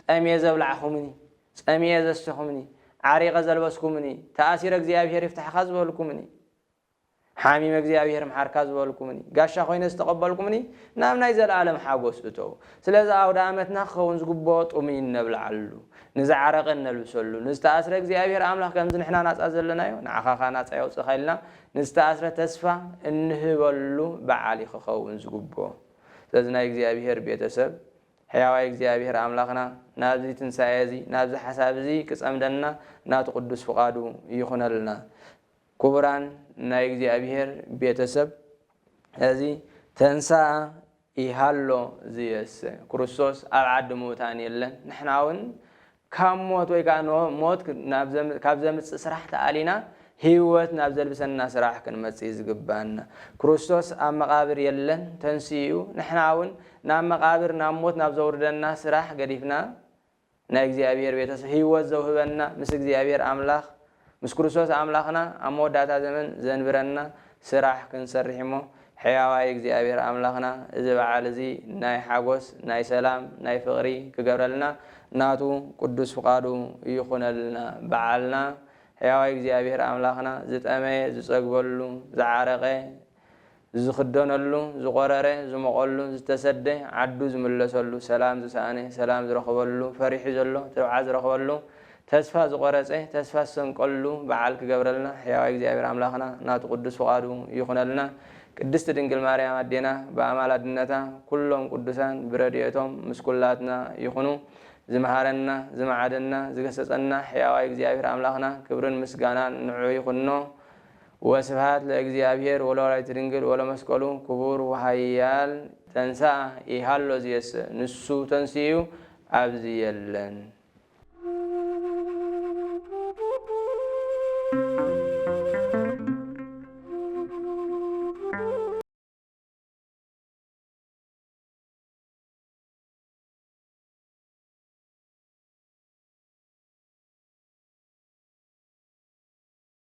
ጠምየ ዘብላዕኹምኒ፣ ጸሚኤ ዘሰኹምኒ፣ ዓሪቐ ዘልበስኩምኒ፣ ተኣሲረ እግዚኣብሔር ይፍታሕኻ ዝበልኩምኒ፣ ሓሚመ እግዚኣብሄር ምሓርካ ዝበልኩምኒ፣ ጋሻ ኮይነ ዝተቐበልኩምኒ፣ ናብ ናይ ዘለኣለም ሓጎስ እተዉ። ስለዚ ኣውደኣመትና ክኸውን ዝግብኦ ጥሙይ እነብልዓሉ፣ ንዝዓረቐ እነልብሰሉ፣ ንዝተኣስረ እግዚኣብሄር ኣምላኽ ከምዚ ንሕና ናጻ ዘለናዮ ንዓኻ ከኣ ናጻ የውጽእኻ ኢልና ንዝተኣስረ ተስፋ እንህበሉ በዓል እዩ ክኸውን ዝግብኦ። ስለዚ ናይ እግዚኣብሄር ቤተ ሰብ ሕያዋይ እግዚኣብሄር ኣምላኽና ናብዚ ትንሳኤ እዚ ናብዚ ሓሳብ እዚ ክጸምደና ናቱ ቅዱስ ፍቓዱ ይኹነልና። ክቡራን ናይ እግዚኣብሔር ቤተ ሰብ እዚ ተንሥኣ ይሃሎ ዝየሰ ክርስቶስ ኣብ ዓዲ ምዉታን የለን ንሕና ዉን ካብ ሞት ወይ ከኣ ን ሞት ካብ ዘምጽእ ስራሕ ተኣሊና ህይወት ናብ ዘልብሰና ስራሕ ክንመጽእ እዩ ዝግብኣና ክርስቶስ ኣብ መቃብር የለን ተንሲኡ ንሕና ዉን ናብ መቃብር ናብ ሞት ናብ ዘዉርደና ስራሕ ገዲፍና ናይ እግዚኣብሔር ቤተሰብ ህይወት ዘውህበና ምስ እግዚኣብሔር ኣምላኽ ምስ ክርስቶስ ኣምላኽና ኣብ መወዳእታ ዘመን ዘንብረና ስራሕ ክንሰርሕ እሞ ሕያዋይ እግዚኣብሔር ኣምላኽና እዚ በዓል እዚ ናይ ሓጎስ ናይ ሰላም ናይ ፍቅሪ ክገብረልና ናቱ ቅዱስ ፍቃዱ ይኹነልና በዓልና ሕያዋይ እግዚኣብሔር ኣምላኽና ዝጠመየ ዝጸግበሉ ዝዓረቀ ዝኽደነሉ ዝቖረረ ዝሞቐሉ ዝተሰደ ዓዱ ዝምለሰሉ ሰላም ዝሰኣነ ሰላም ዝረኽበሉ ፈሪሑ ዘሎ ትብዓት ዝረኽበሉ ተስፋ ዝቖረጸ ተስፋ ዝሰንቀሉ በዓል ክገብረልና ሕያዋይ እግዚኣብሔር ኣምላኽና ናቱ ቅዱስ ፍቓዱ ይኹነልና ቅድስት ድንግል ማርያም ኣዴና ብኣማላድነታ ኩሎም ቅዱሳን ብረድኤቶም ምስ ኩላትና ይኹኑ ዝመሃረና ዝመዓደና ዝገሰጸና ሕያዋይ እግዚኣብሔር ኣምላኽና ክብርን ምስጋናን ንዑ ይኹኖ ወስብሃት ለእግዚኣብሔር ወለወላዲቱ ድንግል ወለመስቀሉ ክቡር ወሃያል ተንሥኣ ኢሃሎ ዚየሰ ንሱ ተንሲኡ ኣብዚ የለን።